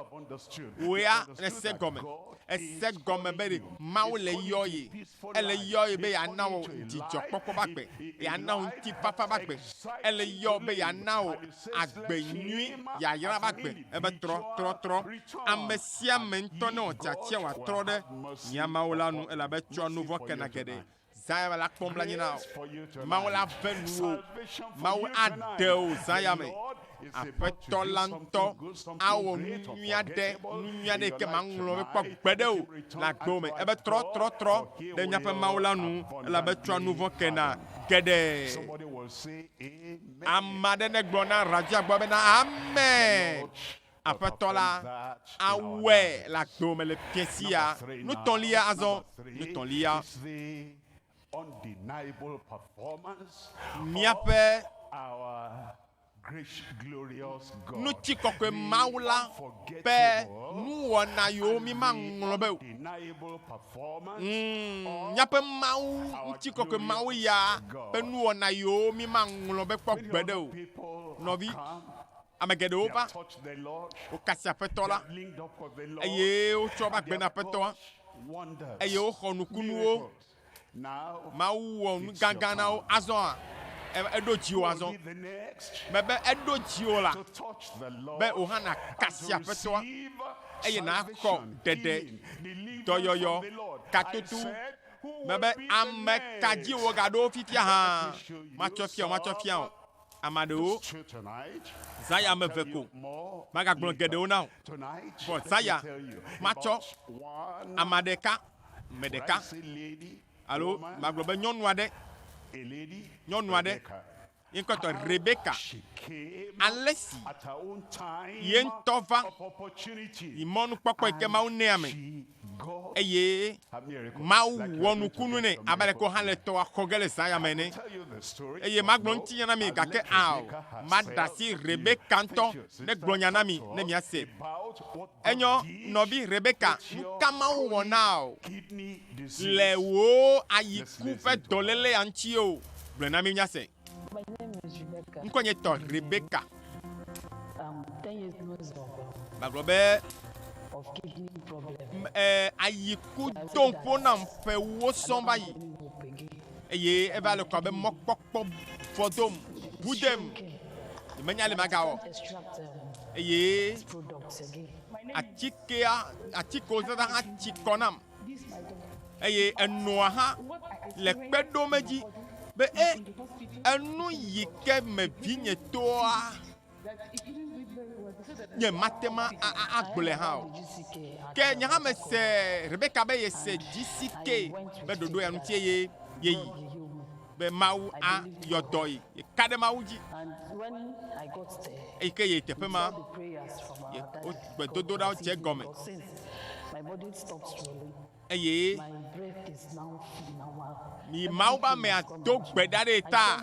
Speaker 1: wò ya nèse gɔme. Èse gɔme be ɖe Mawu le yɔye. Ele yɔye be yeana wò dzidzɔkpɔkpɔ ƒe agbe. Yeana wò ŋutifafa ƒe agbe. Ele yɔwò be yeana wò agbe nyui, yayra ƒe agbe. Ebe trɔ, trɔ, trɔ. Ame sia ame ŋutɔ newɔ tiatia wòatrɔ ɖe mía Mawu la nu elabe etsɔa nu vɔ̃ kena geɖe. Zãyame la kpɔm le anyi na wò. Mawu
Speaker 2: la ve nuwò.
Speaker 1: Mawu
Speaker 2: aɖe wò zãyame. Aƒetɔ la ŋutɔ awɔ
Speaker 1: nu
Speaker 2: nyui
Speaker 1: aɖe,
Speaker 2: nu
Speaker 1: nyui aɖe yi ke
Speaker 2: maŋlɔ
Speaker 1: be kpɔ
Speaker 2: gbe ɖe
Speaker 1: wò
Speaker 2: le agbe
Speaker 1: me.
Speaker 2: Ebe trɔ,
Speaker 1: trɔ, trɔ ɖe míaƒe
Speaker 2: Mawu la nu
Speaker 1: elabe etsɔa nu vɔ̃ kena geɖe.
Speaker 2: Ame aɖe negblɔ
Speaker 1: na Rajah gbɔ bena, Amen. Aƒetɔ la awɔe le agbewo me le fiẽ sia. Nutɔlia azɔ, nutɔlia.
Speaker 2: Míaƒe ŋutikɔkɔe Mawu
Speaker 1: la ƒe nuwɔna yiwo mímaŋlɔ be o. Mm,
Speaker 2: míaƒe
Speaker 1: Mawu, ŋutikɔkɔe Mawu ya ƒe nuwɔna yiwo mímaŋlɔ be kpɔ gbeɖe o. Nɔvi. Ame
Speaker 2: geɖewo va, wokasi Aƒetɔ la, eye wotsɔ va gbe
Speaker 1: na Aƒetɔa,
Speaker 2: eye woxɔ
Speaker 1: nukunuwo.
Speaker 2: Mawu wɔ nu
Speaker 1: gãgã na wo. Azɔa, eɖo dziwò azɔ.
Speaker 2: Mebe eɖo
Speaker 1: dziwò la,
Speaker 2: be wò hã nàkasi
Speaker 1: Aƒetɔa, eye
Speaker 2: nàxɔ
Speaker 1: ɖeɖe,
Speaker 2: dɔyɔyɔ,
Speaker 1: katoto.
Speaker 2: Mebe, Ame
Speaker 1: ka
Speaker 2: dzi
Speaker 1: wò gaɖo wo fifia hã? Matsɔe fia
Speaker 2: wò, matsɔe fia wò.
Speaker 1: Ame aɖewo
Speaker 2: zã ya ame eve
Speaker 1: ko.
Speaker 2: Magagblɔ geɖewo na wò,
Speaker 1: vɔ zã ya
Speaker 2: matsɔ ame ɖeka,
Speaker 1: me ɖeka,
Speaker 2: alo magblɔ
Speaker 1: be nyɔnu
Speaker 2: aɖe, nyɔnu aɖe.
Speaker 1: Ye ŋkɔe
Speaker 2: tɔ
Speaker 1: Rebeka.
Speaker 2: Ale si ye ŋutɔ va yi mɔnukpɔkpɔ yi
Speaker 1: ke Mawu nɛ ame.
Speaker 2: eye
Speaker 1: Mawu
Speaker 2: wɔ nukunu
Speaker 1: nɛ
Speaker 2: abe aleke wohã
Speaker 1: le tɔa xɔ ge le
Speaker 2: zã
Speaker 1: ya me ene. Eye
Speaker 2: magblɔ ŋutinya na mi,
Speaker 1: gake ao,
Speaker 2: maɖe
Speaker 1: asi Rebeka
Speaker 2: ŋutɔ
Speaker 1: negblɔ
Speaker 2: nya na
Speaker 1: mi
Speaker 2: ne
Speaker 1: miase.
Speaker 2: Enyɔ, nɔvi Rebeka,
Speaker 1: nu ka Mawu wɔ
Speaker 2: na wò le wò
Speaker 1: ayiku ƒe dɔlélea ŋuti
Speaker 2: o?
Speaker 1: Gblɔe na mí míase.
Speaker 3: Ŋkɔ nye tɔ Rebeka. Gbagblɔ
Speaker 1: be
Speaker 3: eh, ayi
Speaker 1: ku do ƒo nam ƒewo sɔm va yi eye eva le kɔ abe mɔkpɔkpɔ vɔ dom ʋu dem menya le magawɔ
Speaker 3: eye atikea atikewo
Speaker 1: zazã hã tsi kɔ nam.
Speaker 3: eye enɔa
Speaker 1: hã le kpe ɖom edzi be e, enu yi ke me vinye toa nye mate ma agblɔe hã o. Ke nye
Speaker 3: hã mese
Speaker 1: Rebeka be yese GCK be ɖoɖo ya ŋuti eye yeyi. be Mawu ayɔ dɔ ye, yeka ɖe Mawu dzi.
Speaker 3: Eyi ke yi teƒe ma, gbedodoɖawo
Speaker 1: dze
Speaker 3: egɔme, eye mi Mawu be amea
Speaker 1: do gbe ɖa ɖe ye ta.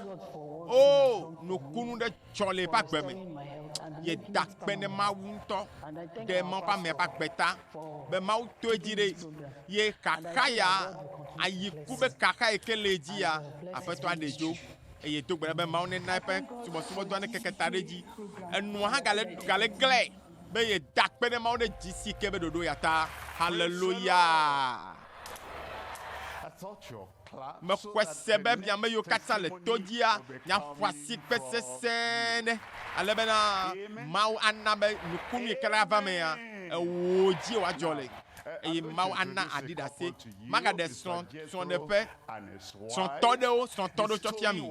Speaker 3: O, nukunu
Speaker 1: ɖe tsɔ le eƒe agbe me.
Speaker 3: Yeda akpe ne Mawu
Speaker 1: ŋutɔ ɖe Mawu ƒe
Speaker 3: amea ƒe agbe ta be
Speaker 1: Mawu to
Speaker 3: edzi ɖe
Speaker 1: ye xaxa ya ayi ku be xaxa yi ke le edzi ya Aƒetɔ aɖe dzo eye do gbe ɖa be Mawu nena eƒe subɔsubɔdɔa nekeke ta ɖe edzi. Enua hã gale gale glɛ be yeda akpe ne Mawu ɖe dzi si ke be ɖoɖo ya ta. Haleluya!
Speaker 2: Mexɔe se be mi ame
Speaker 1: yiwo
Speaker 2: katã
Speaker 1: le to
Speaker 2: dzia
Speaker 1: nya xɔasi
Speaker 2: kpe
Speaker 1: sesẽ
Speaker 2: ɖe,
Speaker 1: ale bena Mawu ana
Speaker 2: be
Speaker 1: nukunui ke ɖe ava emea, ewoo, dzie wòadzɔ le. Eye Mawu ana aɖi ɖase. Magaɖe srɔ̃, srɔ̃ɖeƒe, srɔ̃tɔ ɖewo, srɔ̃tɔ ɖewo tsɔ fia mi.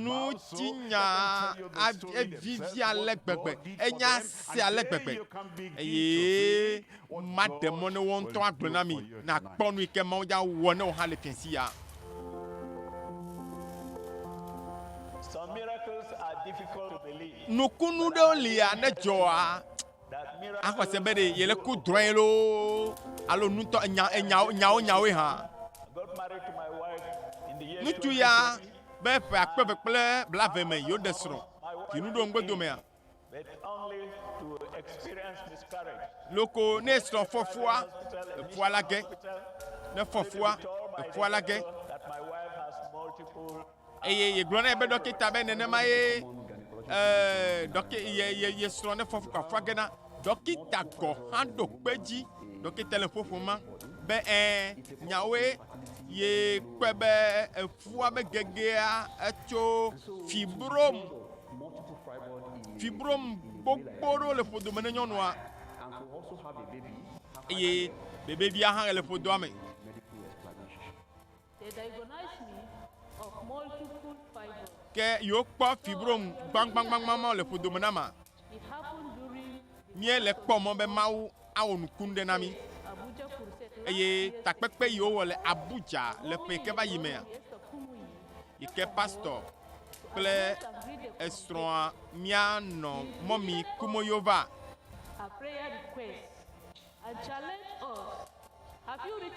Speaker 1: Ŋutinyaa a, evivi ale gbegbe, enya se ale gbegbe, eye. Maɖe mɔ ne wò ŋutɔ agblɔ na mi nàkpɔ nu yi ke Mawu dza wɔ ne wò hã le fiãsi ya.
Speaker 4: Nukunu ɖewo
Speaker 1: lia ne dzɔa
Speaker 4: axɔse be ɖe yele
Speaker 1: ku drɔ̃e loo alo nutɔ enya enyawo nyawo nyawoe hã.
Speaker 4: Ŋutsu ya
Speaker 1: be ƒe akpe eve kple blave me yewoɖe srɔ̃. Dzinu ɖo ŋugbedomea?
Speaker 4: Loko ne
Speaker 1: srɔ̃ fɔfua eƒua la ge, ne fɔfua eƒua la ge.
Speaker 4: Eye yegblɔ nɛ
Speaker 1: be ɖɔkita be nenema ye ɛɛ ɖɔki ye ye ye srɔ̃ ne fɔfua fua ge na ɖɔkita gɔ hã ɖo kpe dzi. Ɖɔkita le ƒoƒo ma be ɛɛ nyawoe ye kpɔe be eƒua be gegea etso fibrom. Fibrom gbogbo ɖewo le ƒodome ne nyɔnua eye bebevia hã le ƒodoa me.
Speaker 5: Ke yewokpɔ
Speaker 1: fibrom gbaŋgbaŋgbaŋgbaŋ le ƒodome na ma.
Speaker 5: Míele kpɔ
Speaker 1: mɔ be Mawu awɔ nukunu ɖe na mí.
Speaker 5: Eye takpekpe
Speaker 1: yi wowɔ le Abuja le ƒe ke va yi mea,
Speaker 5: yi ke pastɔ
Speaker 1: kple esrɔ̃a mía nɔ mɔmi Kumoyova.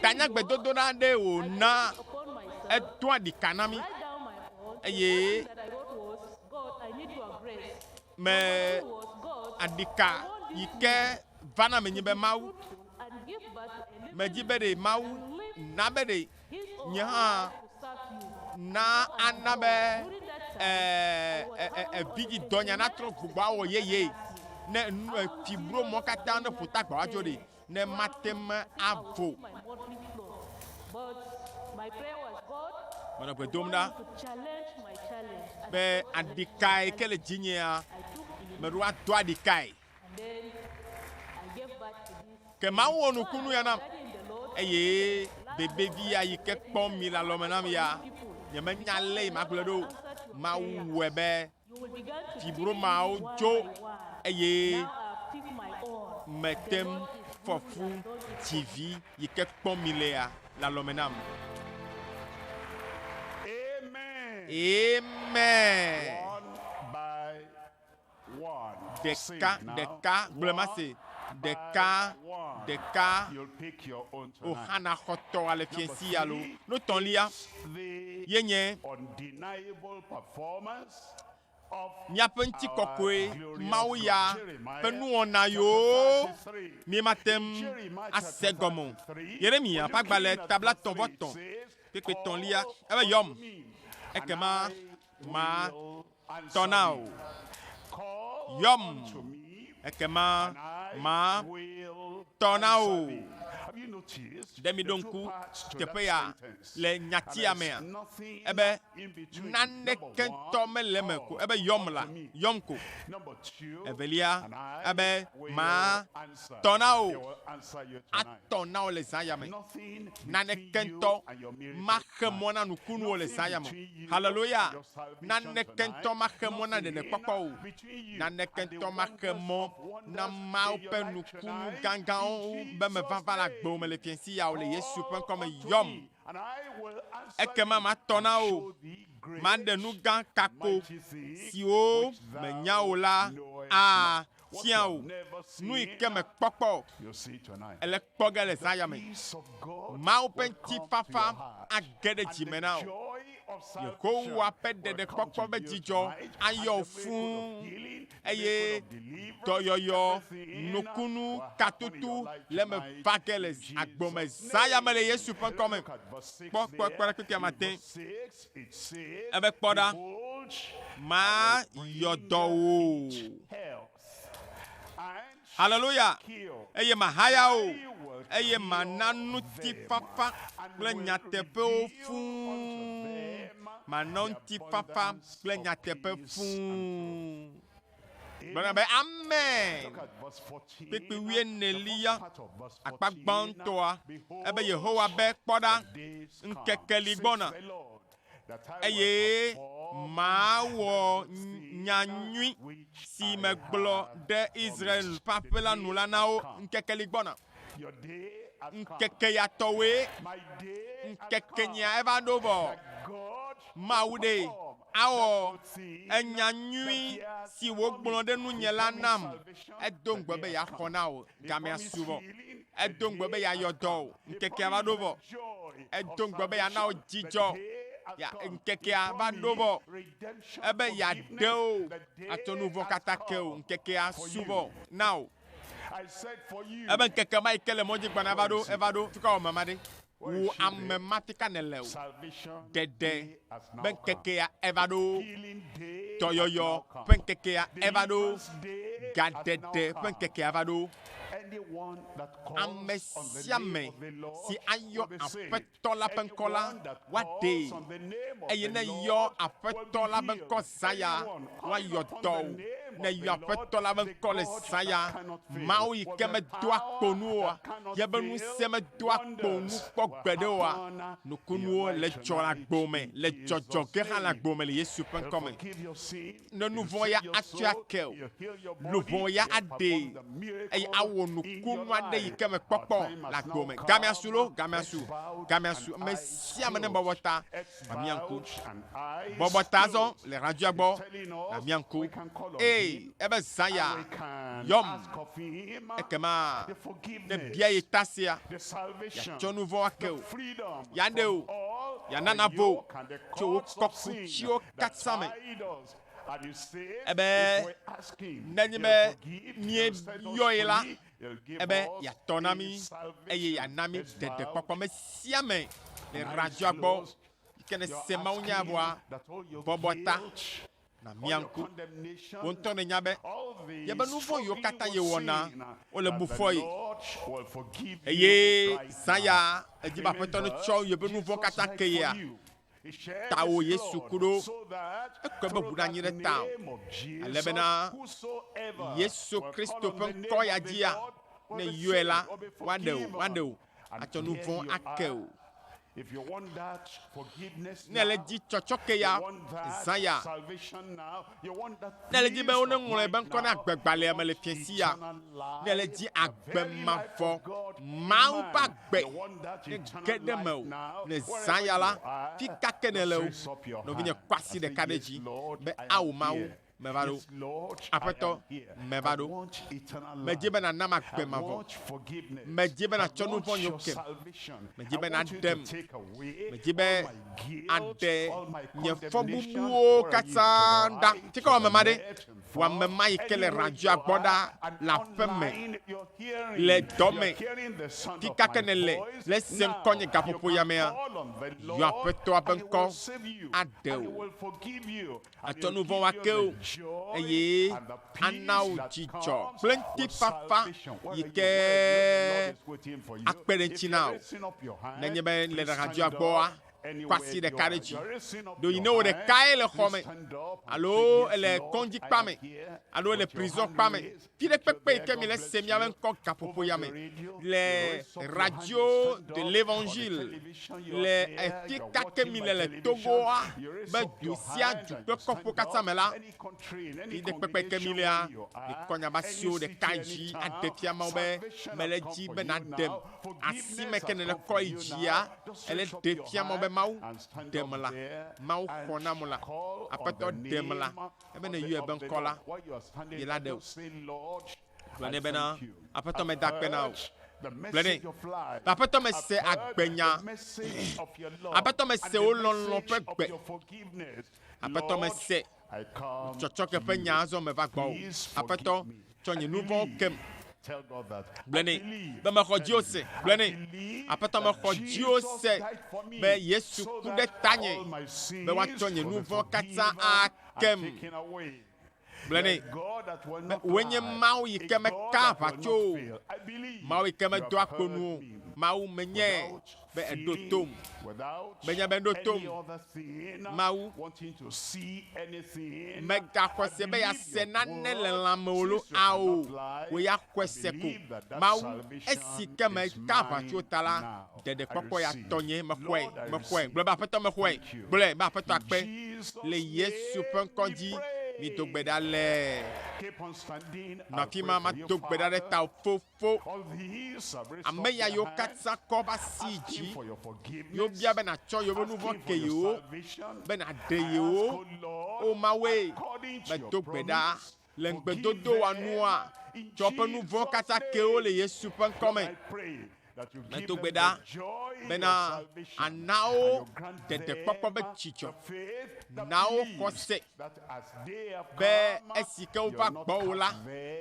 Speaker 5: Tanyagbedodoɖa aɖee
Speaker 1: wòna
Speaker 5: edoa ɖika na mí eye me aɖika yi
Speaker 1: ke va na menye be Mawu.
Speaker 5: Medi be ɖe Mawu
Speaker 1: na be ɖe nye hã
Speaker 5: na ana be ee vidzĩ dɔnya natrɔ
Speaker 1: gbogbo awɔ yeye ne nu efibro mɔ katã ne ƒutagbawo adzo ɖi. ne mate ŋu avo
Speaker 5: Menɔ gbe dom ɖa be aɖikae
Speaker 1: ke le dzinyea,
Speaker 5: meɖo ado aɖikae. Ke Mawu wɔ nukunu ya
Speaker 1: nam eye bebevi ya yi ke kpɔm mi le alɔme nam ya, nyemenya lé yi magblɔ ɖo. Mawu wɔe be
Speaker 5: Fibromawo dzo
Speaker 1: eye
Speaker 5: mete ŋu
Speaker 1: fɔ fu TV yi ke kpɔm milea le alɔme nam.
Speaker 2: Amen. Ɖeka
Speaker 1: ɖeka,
Speaker 2: gblɔ ma se.
Speaker 1: Ɖeka ɖeka,
Speaker 2: o xana xɔtɔ ale
Speaker 1: fiɛsi alo notɔlia. yenye
Speaker 2: míaƒe ŋutikɔkɔe
Speaker 1: Mawu ya ƒe nuwɔna yiwo míemate
Speaker 2: ŋu
Speaker 1: ase gɔme o. Yeremya ƒe agbalẽ tabla tɔ̃ vɔ tɔ̃ kpekpe tɔ̃lia ebe yɔm ekema ma tɔ na wò. Yɔm, ekema ma tɔ na wò. Ɖe mìɖo ŋku teƒe ya le nyatia mea? Ebe, Naneke ŋutɔ mele eme ko, ebe, Yɔm la, yɔm ko. Evelia, ebe, Ma tɔ na wò. Atɔ na wò le zã ya me. Naneke ŋutɔ ma. xe mɔ na nukunuwo le zã ya me. Haleloya! Naneke ŋutɔ maxe mɔ na ɖeɖekpɔkpɔ o. Naneke ŋutɔ maxe mɔ na Mawu ƒe nukunu gãgãwo wu be mevava le agbewo me le fiẽsi ya o, le Yesu ƒe ŋkɔ me. Yɔm, ekema matɔ na wò, maɖe nu gã ka ko, siwo mènya o la. Aa! fia wò nuyi ke mèkpɔkpɔ o, èle kpɔ ge le zã ya me. Mawu ƒe ŋutifafa age ɖe dzi me na wò. Yehowa ƒe ɖeɖekpɔkpɔ ƒe dzidzɔ ayɔ wò fũu, eye dɔyɔyɔ, nukunu, katutu le eme va ge le agbo me zã ya me le Yesu ƒe ŋkɔ me. Kpɔ kpɔkpɔ ɖe kpekpea mate. Ebe, Kpɔ ɖa, mayɔ dɔ wò. Haleluya! Eye mahaya wò, eye mana ŋutifafa kple nyateƒewo fũu, mana ŋutifafa kple nyateƒe fũu. Gblɔna be, Amen! Kpekpe wuienelia, akpa gbãtɔa, ebe Yehowa be, Kpɔ ɖa, ŋkeke li gbɔna, eye mawɔ nya nyui si megblɔ ɖe Israel ƒe aƒe la nu la na wo. Ŋkeke li gbɔna. Ŋkeke ya tɔwoe, ŋkekenyea eva ɖo vɔ. Mawu ɖe awɔ enya nyui si wògblɔ ɖe nunye la nam. Edo ŋugbe be yeaxɔ na wò gamea subɔ. Edo ŋugbe be yeayɔ dɔ wò. Ŋkekea va ɖo vɔ. Edo ŋugbe be yeana wò dzidzɔ. Ya, ŋkekea va ɖo vɔ. Ebe yeaɖe wò atsɔ nu vɔ̃ katã ke wò. Ŋkekea su vɔ na wò. Ebe ŋkeke ma yi ke le mɔ dzi gbana va ɖo, eva ɖo, fi ka wɔme ma ɖe? Wò ame ma fi ka nèle o? Ɖeɖe be ŋkekea eva ɖo, dɔyɔyɔ ƒe ŋkekea eva ɖo, gaɖeɖe ƒe ŋkekea va ɖo.
Speaker 2: Ame sia
Speaker 1: ame si
Speaker 2: ayɔ
Speaker 1: Aƒetɔ Aƒetɔ la
Speaker 2: ƒe ŋkɔ la,
Speaker 1: woaɖee,
Speaker 2: eye ne yɔ
Speaker 1: Aƒetɔ la ƒe
Speaker 2: ŋkɔ
Speaker 1: zã ya, woayɔ dɔ
Speaker 2: o. Ne
Speaker 1: yɔ
Speaker 2: Aƒetɔ
Speaker 1: la
Speaker 2: ƒe
Speaker 1: ŋkɔ
Speaker 2: le
Speaker 1: zã ya, Mawu yi
Speaker 2: ke medoa
Speaker 1: kpo nu oa, ye ƒe ŋusẽ
Speaker 2: medoa
Speaker 1: kpo nu kpɔ gbeɖe
Speaker 2: oa,
Speaker 1: nukunuwo
Speaker 2: le
Speaker 1: dzɔ le
Speaker 2: agbo
Speaker 1: me, le
Speaker 2: dzɔdzɔ
Speaker 1: ge
Speaker 2: hã
Speaker 1: le
Speaker 2: agbo me
Speaker 1: le Yesu ƒe ŋkɔ
Speaker 2: me.
Speaker 1: Ne
Speaker 2: nu vɔ̃ ya
Speaker 1: atsɔe ake
Speaker 2: o,
Speaker 1: luʋɔ
Speaker 2: ya aɖee,
Speaker 1: eye
Speaker 2: awɔ
Speaker 1: nukunu aɖe
Speaker 2: yi ke
Speaker 1: mèkpɔkpɔ o le agbe
Speaker 2: me. Gamɛasu loo
Speaker 1: gamɛasu o,
Speaker 2: gamɛasu,
Speaker 1: ame sia ame ne bɔbɔ
Speaker 2: ta, mamia
Speaker 1: ŋku.
Speaker 2: Bɔbɔ ta azɔ le
Speaker 1: radioa gbɔ,
Speaker 2: namia
Speaker 1: ŋku. Ee,
Speaker 2: ebe zã
Speaker 1: ya, yɔm.
Speaker 2: Ekema
Speaker 1: ne bia ye
Speaker 2: ta sea,
Speaker 1: yeatsɔ
Speaker 2: nu vɔ̃ ake wò,
Speaker 1: yeaɖe
Speaker 2: wò,
Speaker 1: yeana
Speaker 2: navo wò
Speaker 1: tso wò
Speaker 2: kɔkutsiwo katã me. Ebe, Nenye be
Speaker 1: míeyɔe la, ebe
Speaker 2: yeatɔ na mí,
Speaker 1: eye yeana mí ɖeɖekpɔkpɔ. Ame sia
Speaker 2: ame
Speaker 1: le radzɔa gbɔ yi ke
Speaker 2: nese
Speaker 1: mawunyaa vɔa,
Speaker 2: bɔbɔ ta nàmia ŋku.
Speaker 1: Wò ŋutɔ
Speaker 2: nènya be
Speaker 1: yeƒe nu
Speaker 2: vɔ̃ yiwo katã
Speaker 1: yewɔna, wole
Speaker 2: bu fɔe. Eye zã ya, edi
Speaker 1: be
Speaker 2: Aƒetɔ
Speaker 1: netsɔ yeƒe nu vɔ̃
Speaker 2: katã
Speaker 1: ke yea,
Speaker 2: Tawò Yesu ku ɖo,
Speaker 1: ekɔe
Speaker 2: be ʋu nanyi ɖe
Speaker 1: tawò, ale
Speaker 2: bena Yesu Kristo
Speaker 1: ƒe ŋkɔ
Speaker 2: ya
Speaker 1: dzia,
Speaker 2: ne èyɔe la, woaɖe
Speaker 1: wò,
Speaker 2: woaɖe wò,
Speaker 1: atsɔ
Speaker 2: nu
Speaker 1: vɔ̃
Speaker 2: ake
Speaker 1: wò.
Speaker 2: Ne èle edzi tsɔtsɔke
Speaker 1: ya, zã
Speaker 2: ya, Nèle dzi be woneŋlɔe
Speaker 1: be ŋkɔ na
Speaker 2: agbegbalẽa
Speaker 1: me
Speaker 2: le fiasia.
Speaker 1: Nèle
Speaker 2: dzi agbe
Speaker 1: mavɔ, Mawu
Speaker 2: ƒe agbe
Speaker 1: nege
Speaker 2: ɖe mewò.
Speaker 1: Ne zã
Speaker 2: ya la, fi
Speaker 1: ka
Speaker 2: ke
Speaker 1: nèle
Speaker 2: o?
Speaker 1: Nɔvinye, kɔ
Speaker 2: asi ɖeka ɖe dzi be ao
Speaker 1: Mawu,
Speaker 2: meva
Speaker 1: ɖo. Aƒetɔ,
Speaker 2: meva
Speaker 1: ɖo. Medi
Speaker 2: be nànam agbe
Speaker 1: mavɔ.
Speaker 2: Medi be nàtsɔ
Speaker 1: nuvɔ̃ nywo kem. Medi be
Speaker 2: nàɖem.
Speaker 1: Medi
Speaker 2: be
Speaker 1: aɖe nye
Speaker 2: fɔbubuwo katã ɖa. Tsi ke
Speaker 1: wɔame ma
Speaker 2: ɖe,
Speaker 1: wɔame
Speaker 2: ma yi ke le
Speaker 1: radzoa gbɔ ɖa le
Speaker 2: aƒe
Speaker 1: me
Speaker 2: le dɔ me,
Speaker 1: fi ka
Speaker 2: ke nèle
Speaker 1: ne
Speaker 2: èse
Speaker 1: ŋkɔ nye gaƒoƒo
Speaker 2: yamea,
Speaker 1: yɔ
Speaker 2: Aƒetɔa
Speaker 1: ƒe
Speaker 2: ŋkɔ aɖe
Speaker 1: wò.
Speaker 2: Atsɔ nu vɔ̃ ake wò,
Speaker 1: eye ana
Speaker 2: wò dzidzɔ
Speaker 1: kple ŋutifafa
Speaker 2: yi
Speaker 1: ke
Speaker 2: akpe ɖe ŋuti na wò.
Speaker 1: Nenye be
Speaker 2: le ɖaɣadua
Speaker 1: gbɔa,
Speaker 2: kɔ asi ɖeka
Speaker 1: ɖe dzi. Ɖo yi
Speaker 2: ne
Speaker 1: wò
Speaker 2: ɖekae le
Speaker 1: xɔ me,
Speaker 2: alo èle
Speaker 1: kɔŋdzikpa
Speaker 2: me, alo èle prizɔ̃kpa
Speaker 1: me, Viɖekpekpe yi ke
Speaker 2: mi le
Speaker 1: se
Speaker 2: miabe
Speaker 1: ŋkɔ
Speaker 2: gaƒoƒo
Speaker 1: ya me le Radio
Speaker 2: de
Speaker 1: l'Evangile
Speaker 2: le afi ka ke mi le
Speaker 1: le Togoa
Speaker 2: be
Speaker 1: du
Speaker 2: sia du
Speaker 1: kple
Speaker 2: kɔƒewo katã
Speaker 1: me
Speaker 2: la, viɖekpekpe yi ke mi lea,
Speaker 1: mikɔ nya ba
Speaker 2: siwo
Speaker 1: ɖeka dzi aɖe
Speaker 2: fia Mawu
Speaker 1: be mele edzi be
Speaker 2: nàɖem.
Speaker 1: Asi
Speaker 2: me ke nèle
Speaker 1: kɔ yi
Speaker 2: dzia, ele
Speaker 1: ɖe
Speaker 2: fia Mawu be,
Speaker 1: Mawu, ɖem la. Mawu
Speaker 2: xɔ nam
Speaker 1: la. Aƒetɔ, ɖem
Speaker 2: la. Ebe ne
Speaker 1: yɔe be
Speaker 2: ŋkɔ
Speaker 1: la, ye
Speaker 2: la ɖe o. Gblɔ nɛ bena,
Speaker 1: Aƒetɔ meda
Speaker 2: akpe na
Speaker 1: wò. Gblɔ nɛ be, Aƒetɔ
Speaker 2: mese
Speaker 1: agbenya.
Speaker 2: Aƒetɔ mese wò lɔlɔ̃
Speaker 1: ƒe
Speaker 2: gbe. Aƒetɔ mese tsɔtsɔke ƒe nya azɔ
Speaker 1: meva gbɔwò. Aƒetɔ
Speaker 2: Tsɔ
Speaker 1: nye nu
Speaker 2: vɔ̃wo kem. Gblɔe nɛ be
Speaker 1: mexɔ dziwò
Speaker 2: se.
Speaker 1: Gblɔe nɛ,
Speaker 2: Aƒetɔ,
Speaker 1: mexɔ
Speaker 2: dziwò se be
Speaker 1: Yesu
Speaker 2: ku ɖe
Speaker 1: tanye
Speaker 2: be woatsɔ nye nu vɔ̃
Speaker 1: katã akem.
Speaker 2: Gblɔe nɛ be
Speaker 1: wòe
Speaker 2: nye
Speaker 1: Mawu
Speaker 2: yi
Speaker 1: ke
Speaker 2: mekaa
Speaker 1: aʋa tso
Speaker 2: o,
Speaker 1: Mawu
Speaker 2: yi ke medoa kpo
Speaker 1: nu o.
Speaker 2: Mawu
Speaker 1: menye. be eɖo
Speaker 2: tom.
Speaker 1: Menye be
Speaker 2: eɖo tom Mawu. Mègaxɔ se be
Speaker 1: yease nane le lã me o lo, ao, wò ya xɔe se ko. Mawu, esi ke meka aʋa tso ta la, ɖeɖekpɔkpɔ ya tɔnye. Mexɔe, mexɔe. Gblɔ be, Aƒetɔ, mexɔe. Gblɔe be, Aƒetɔ akpe. Le Yesu ƒe ŋkɔ dzi mido gbe ɖa le.
Speaker 2: Nɔ afi ma, mado
Speaker 1: gbe ɖa ɖe tawò, Fofo. fo.
Speaker 2: Ame ya yiwo katã kɔ va si
Speaker 1: dzi
Speaker 2: yiwo bia be natsɔ
Speaker 1: yewo nu vɔ̃ ke yewo
Speaker 2: be
Speaker 1: naɖe
Speaker 2: yewo, O Mawue,
Speaker 1: medo gbe
Speaker 2: ɖa
Speaker 1: le
Speaker 2: ŋugbedodoa
Speaker 1: nua, tsɔ woƒe
Speaker 2: nu
Speaker 1: vɔ̃ katã ke
Speaker 2: wo le
Speaker 1: Yesu ƒe ŋkɔ
Speaker 2: me. Medo gbe ɖa
Speaker 1: bena àna
Speaker 2: wo ɖeɖekpɔkpɔ be
Speaker 1: dzidzɔ, na
Speaker 2: wo xɔse. be esi ke
Speaker 1: wova
Speaker 2: gbɔwò
Speaker 1: la,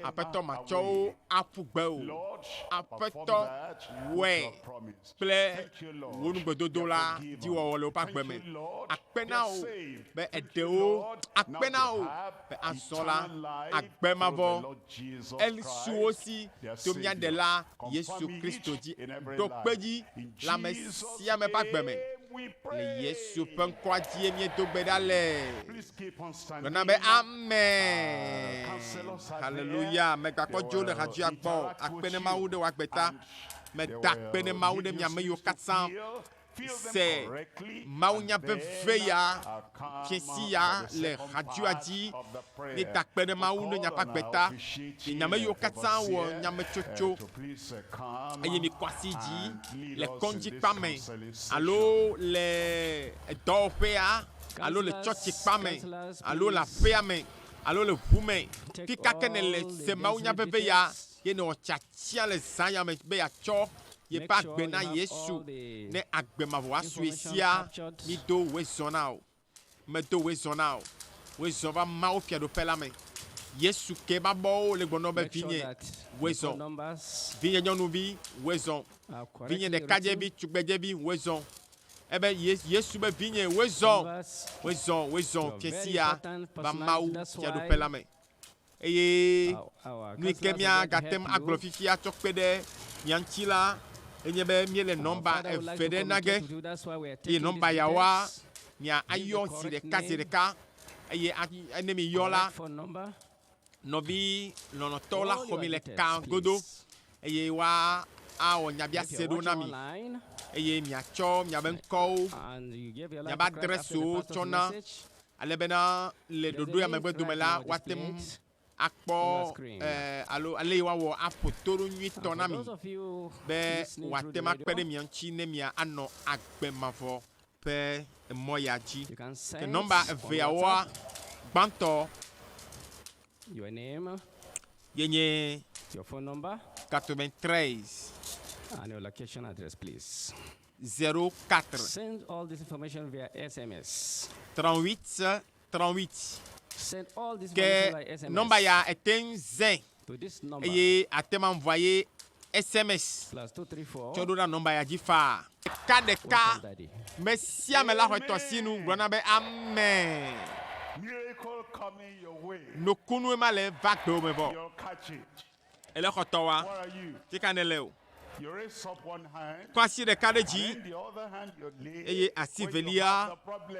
Speaker 1: Aƒetɔ
Speaker 2: matsɔ wo
Speaker 1: aƒu
Speaker 2: gbe
Speaker 1: o. Aƒetɔ wɔe
Speaker 2: kple
Speaker 1: wò
Speaker 2: nugbedodo la
Speaker 1: dziwɔwɔ
Speaker 2: le woƒe
Speaker 1: agbe
Speaker 2: me.
Speaker 1: Akpe na
Speaker 2: wò be èɖe
Speaker 1: wo,
Speaker 2: akpe
Speaker 1: na wò be azɔ
Speaker 2: la agbe
Speaker 1: mavɔ
Speaker 2: Elisuwo si
Speaker 1: Domiaɖela Yesu Kristo
Speaker 2: dzi ɖo
Speaker 1: kpe dzi le
Speaker 2: ame sia
Speaker 1: ame ƒe agbe
Speaker 2: me.
Speaker 1: Le
Speaker 2: Yesu
Speaker 1: ƒe
Speaker 2: ŋkɔa
Speaker 1: dzie míedo gbe ɖa le.
Speaker 2: Gblɔna be Amen. Haleluya. Megbakpɔ
Speaker 1: dzo le
Speaker 2: hadzoea
Speaker 1: gbɔ.
Speaker 2: Akpe ne
Speaker 1: Mawu ɖe
Speaker 2: wò agbe
Speaker 1: ta. Meda
Speaker 2: akpe
Speaker 1: ne Mawu ɖe
Speaker 2: mi ame
Speaker 1: yiwo
Speaker 2: katã
Speaker 1: se mawunya
Speaker 2: veve
Speaker 1: ya fiesi
Speaker 2: ya
Speaker 1: le xadua
Speaker 2: dzi ne
Speaker 1: takpe
Speaker 2: ɖe Mawu ne
Speaker 1: nyaƒe agbe ta. Nye
Speaker 2: nyame
Speaker 1: yiwo katã
Speaker 2: wɔ
Speaker 1: nyametsotso
Speaker 2: eye mi kɔ asi dzi
Speaker 1: le kɔŋdzi
Speaker 2: kpa me alo le
Speaker 1: edɔwɔƒea alo le tsɔtsi kpa me alo le aƒea me alo le ʋu me. Fika ke ne le se mawunya veve ya. Ye nɔ tsia tsia le zã ya me be yeatsɔ yeƒe agbe na Yesu ne agbe mavɔa sue sia. Mido wezɔ na o. Medo wezɔ na o. Wezɔ va Mawu Fiaɖuƒe la me. Yesu ke eƒe abɔwo le gbɔnɔ be, Vinye, wezɔ. Vinye nyɔnuvi, wezɔ. Vinye ɖekadzevi, tugbedzevi, wezɔ. Ebe Ye, Yesu be, Vinye, wezɔ. Wezɔ, wezɔ, fiasia va Mawu Fiaɖuƒe la me. Eye nu yi ke míagate ŋu agblɔ fifi atsɔ kpe ɖe mia ŋuti la, enye be míele nɔmba eve ɖe na ge, eye nɔmba yawoa, mia ayɔ zi ɖeka zi ɖeka, eye a, ne miyɔ la, nɔvi lɔlɔ̃tɔwo la xɔ mi le ka godo, eye woa awɔ nyabiase ɖewo na mi, eye miatsɔ miabe ŋkɔwo, miabe adrɛsiwo tsɔ na. Ale bena le ɖoɖoea megbe dome la, woate ŋu akpɔ alo ale yi woawɔ aƒo to ɖo nyuitɔ na mi be wòate ŋu akpe ɖe mia ŋuti ne mia anɔ agbe mavɔ ƒe emɔ ya dzi. Ke nɔmba eveawoa, gbãtɔ
Speaker 6: ye nye
Speaker 1: Katomɛn
Speaker 6: Trɛs. 04.
Speaker 1: Send
Speaker 6: all this information via SMS. 3838. Send all this Ke information via SMS.
Speaker 1: nɔmba
Speaker 6: ya ète ŋu
Speaker 1: zɛ To this number. eye
Speaker 6: àte ma vɔa
Speaker 1: ye SMS Plus
Speaker 6: 234. tsɔ ɖo na nɔmba ya dzi
Speaker 1: faa. Ɖeka ɖeka Welcome, Daddy. me
Speaker 6: sia me la
Speaker 1: xɔe tɔsinu gblɔna be amɛ. Miracle
Speaker 2: coming your way. Nukunu ema le
Speaker 1: va gbewò me vɔ. Your catch it.
Speaker 2: Ele xɔ tɔ wa.
Speaker 1: Fi ka
Speaker 2: nèle o? Kɔ asi ɖeka ɖe dzi eye asi velia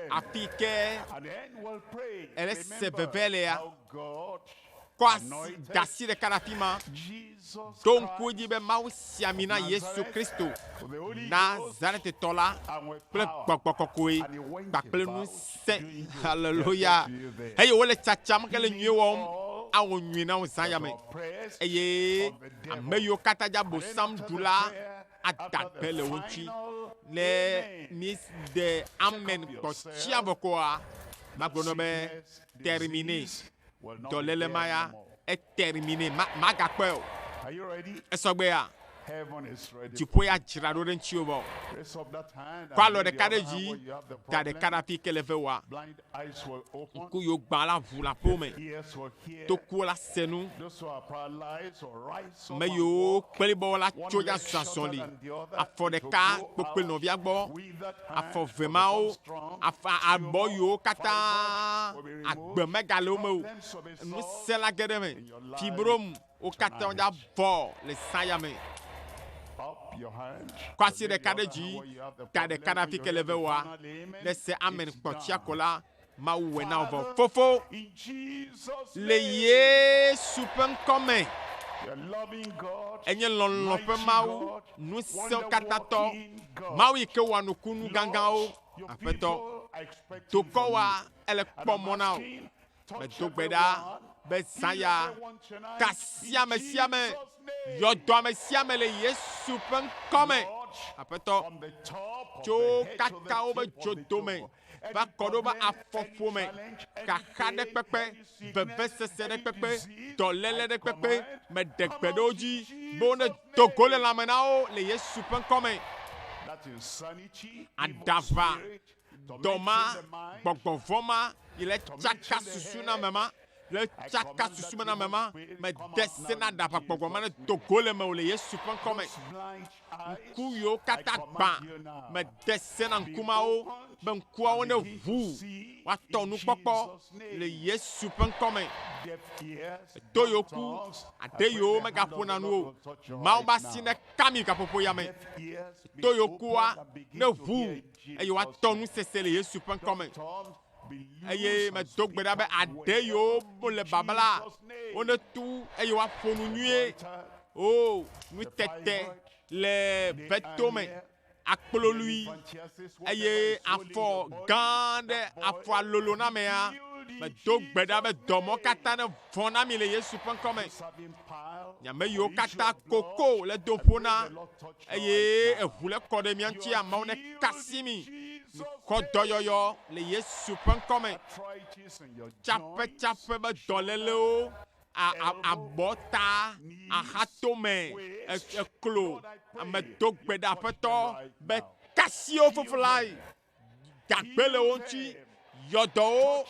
Speaker 2: afi ke ele se veve
Speaker 1: lea.
Speaker 2: Kɔ asi
Speaker 1: da asi ɖeka ɖe afi ma. Ɖo
Speaker 2: ŋku edzi be
Speaker 1: Mawu si
Speaker 2: ami
Speaker 1: na Yesu Kristo,
Speaker 2: Nazaretitɔ la
Speaker 1: kple gbɔgbɔ
Speaker 2: kɔkɔe
Speaker 1: kpakple nu
Speaker 2: te.
Speaker 1: Haleluya. Eye wole
Speaker 2: tsatsam ke le
Speaker 1: nyuie wɔm.
Speaker 2: Awɔ
Speaker 1: nyuie na
Speaker 2: wo zã
Speaker 1: ya me. Eye ame yiwo
Speaker 2: katã dza
Speaker 1: bosam ɖu la adagbe
Speaker 2: le
Speaker 1: wo ŋuti. Ne mi
Speaker 2: de
Speaker 1: amen kpɔ tsia vɔ koa, magblɔ nɔ be termine.
Speaker 2: Dɔléle ma ya
Speaker 1: etermine,
Speaker 2: ma,
Speaker 1: magakpɔe o.
Speaker 2: Esɔgbe ya? Dziƒo ya dzra ɖo ɖe
Speaker 1: ŋutiwò vɔ.
Speaker 2: Kɔ alɔ ɖeka ɖe dzi,
Speaker 1: da
Speaker 2: ɖeka ɖe afi ke le
Speaker 1: ve
Speaker 2: wòa. Ŋku yiwo gbã la ʋu
Speaker 1: le aƒewo me. Tokuwo
Speaker 2: la se nu. Me yiwo kpli
Speaker 1: bɔ la
Speaker 2: tso Yaza
Speaker 1: zɔli
Speaker 2: afɔ ɖeka
Speaker 1: kpokpli
Speaker 2: nɔvia
Speaker 1: gbɔ. Afɔ
Speaker 2: ve mawo
Speaker 1: afa
Speaker 2: abɔ yiwo
Speaker 1: katã
Speaker 2: agbe megale wo me o.
Speaker 1: Ŋusẽ
Speaker 2: la ge ɖe eme.
Speaker 1: Fibrom
Speaker 2: wo katã
Speaker 1: wodze abɔ le zã ya me.
Speaker 2: Kɔ asi ɖeka ɖe
Speaker 1: dzi.
Speaker 2: Ka
Speaker 1: ɖeka
Speaker 2: ɖe afi ke le ve
Speaker 1: wɔa.
Speaker 2: Ne
Speaker 1: se
Speaker 2: amen kpɔtsia
Speaker 1: ko la, Mawu
Speaker 2: wɛ
Speaker 1: na vɔ Fofo
Speaker 2: le
Speaker 1: Yesu
Speaker 2: ƒe
Speaker 1: ŋkɔ me.
Speaker 2: Enye lɔlɔ̃ ƒe
Speaker 1: Mawu,
Speaker 2: Ŋusẽkatãtɔ,
Speaker 1: Mawu yi
Speaker 2: ke wɔa nukunu
Speaker 1: gãgãwo,
Speaker 2: Aƒetɔ. Dokɔ wa ele kpɔ
Speaker 1: mɔ
Speaker 2: na wò.
Speaker 1: Medo
Speaker 2: gbe ɖa
Speaker 1: be
Speaker 2: zãya
Speaker 1: kasi
Speaker 2: ame
Speaker 1: sia ame, yɔ dɔ ame sia
Speaker 2: ame
Speaker 1: le Yesu
Speaker 2: ƒe
Speaker 1: ŋkɔ me, Aƒetɔ.
Speaker 2: Tso kaka
Speaker 1: woƒe
Speaker 2: dzodo me. va
Speaker 1: kɔ ɖo
Speaker 2: va afɔƒome,
Speaker 1: kaxaɖekpekpe, vevesese
Speaker 2: ɖe kpekpe, dɔléle
Speaker 1: ɖe
Speaker 2: kpekpe
Speaker 1: me
Speaker 2: ɖe
Speaker 1: gbe
Speaker 2: ɖe wo dzi
Speaker 1: be
Speaker 2: wonedo
Speaker 1: go le lãme
Speaker 2: na wo
Speaker 1: le Yesu ƒe ŋkɔ me.
Speaker 2: Aɖaʋa, dɔ ma,
Speaker 1: gbɔgbɔ
Speaker 2: vɔ̃ ma
Speaker 1: yi le tsaka susu na ame ma. Le tsaka susumename ma, mede se na ɖaʋakpɔgbɔ ma ne do go le mewò le Yesu ƒe ŋkɔ me.
Speaker 2: Ŋku yiwo katã
Speaker 1: gbã,
Speaker 2: mede se na ŋku
Speaker 1: ma wo be ŋkuawo neʋu woatɔ nukpɔkpɔ le Yesu ƒe ŋkɔ me.
Speaker 2: To yewo ku
Speaker 1: aɖe yewo
Speaker 2: megaƒona
Speaker 1: nu
Speaker 2: o.
Speaker 1: Mawu ƒe
Speaker 2: asi neka mi
Speaker 1: gaƒoƒo ya me. To
Speaker 2: yewo kua neʋu eye
Speaker 1: woatɔ nusese
Speaker 2: le Yesu
Speaker 1: ƒe
Speaker 2: ŋkɔ
Speaker 1: me.
Speaker 2: eye medo
Speaker 1: gbe ɖa be aɖe yewo
Speaker 2: mo le
Speaker 1: babla
Speaker 2: wo
Speaker 1: ne tu
Speaker 2: eye
Speaker 1: woaƒo nu nyuie o oh, nutete le veto me akplolui eye afɔ gã ɖe afɔa lolo na mea medo gbe ɖa be dɔmɔ katã ne vɔ na mi le yesu ƒe ŋkɔ me nyame yiwo katã koko le doƒo na Eye eʋu le kɔ ɖe mía ŋuti, amewo ne kasi mi. Kɔ dɔyɔyɔ le Yesu ƒe ŋkɔ me. Tsaƒe tsaƒe be dɔlélewo, abɔ ta, axatome, eklo, ame do gbe ɖe aƒetɔ be kasi wo fofo lae. gagbe le wo ŋuti, yɔ dɔ wo,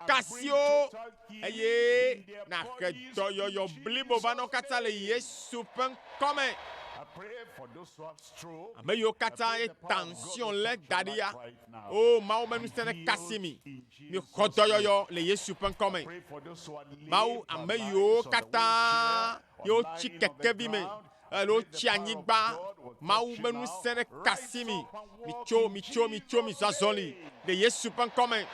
Speaker 1: kasi wo, eye nàhe dɔyɔyɔ blibo va na wo katã le Yesu ƒe ŋkɔ me. Ame yiwo katã ye tension lé da ɖi ya, o Mawu ƒe ŋusẽ nekasi mi. Mixɔ dɔyɔyɔ le Yesu ƒe ŋkɔ me. Mawu, ame yiwo katã ye wotsi kekevi me, alo wotsi anyigba. Mawu be ŋusẽ ɖe ka si mi. Mitso, mitso, mitso, mizɔ azɔli le Yesu ƒe ŋkɔ me.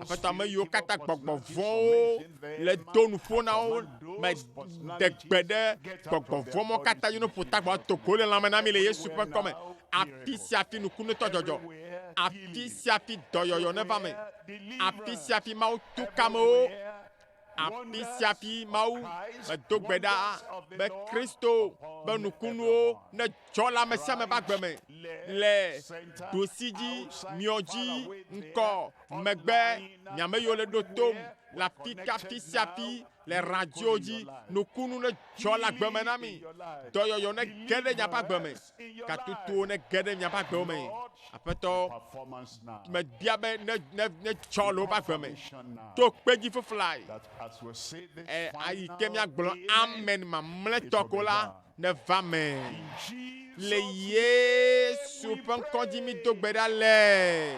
Speaker 1: Aƒetɔ ame yiwo katã gbɔgbɔ vɔ̃wo le do nuƒo na wo, mede gbe ɖe gbɔgbɔ vɔ̃ mɔ katã dzi no ƒo tagbɔ to go le lãme na mi le Yesu ƒe ŋkɔ me. Afi sia afi nukunutɔ dzɔdzɔ, afi sia afi dɔyɔyɔ neva me, afi sia afi Mawu tu kamewo. Afi sia afi Mawu medo gbe ɖa be Kristo ƒe nukunuwo nedzɔ le ame sia ame ƒe agbe me le ɖosi dzi, miɔ dzi, ŋkɔ, megbe, nyame yiwo le ɖo tom le afi ka afi sia afi le radio dzi. Nukunu nedzɔ le agbe me na mi. Dɔyɔyɔ nege ɖe nyaƒe agbe me. Gatotowo nege ɖe miaƒe agbewo me, Aƒetɔ. Mebia be ne ne ne tsɔ le woƒe agbe me to kpe dzi fiflae. E ayi ke miagblɔ amen mamlɛtɔ ko la neva me. Le Yesu ƒe ŋkɔ dzi mi do gbe ɖa le.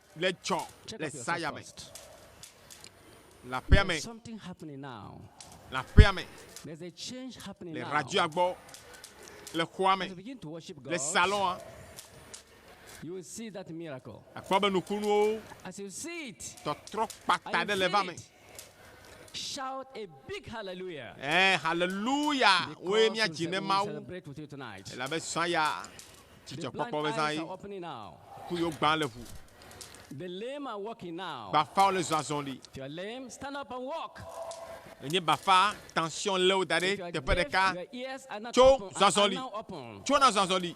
Speaker 6: Le tsɔ
Speaker 1: le saya me. Le aƒea me.
Speaker 6: Le aƒea
Speaker 1: me.
Speaker 6: Le radioa gbɔ.
Speaker 1: Le xɔa me.
Speaker 6: Le
Speaker 1: salɔa.
Speaker 6: Akpɔ be nukunuwo. Tɔtrɔ kpata
Speaker 1: ɖe le va
Speaker 6: me. Shout a big hallelujah. Eh, hallelujah.
Speaker 1: Woe mía
Speaker 6: dzi ne Mawu. Elabe sɔya.
Speaker 1: Dzidzɔkpɔkpɔ
Speaker 6: be zã yi
Speaker 1: ku
Speaker 6: yo gbã le ʋu. Bafawo le zɔ azɔli. Enye bafa
Speaker 1: tension lé wo da ɖe teƒe
Speaker 6: ɖeka. Tso zɔ
Speaker 1: azɔli.
Speaker 6: Tso
Speaker 1: na zɔ
Speaker 6: azɔli.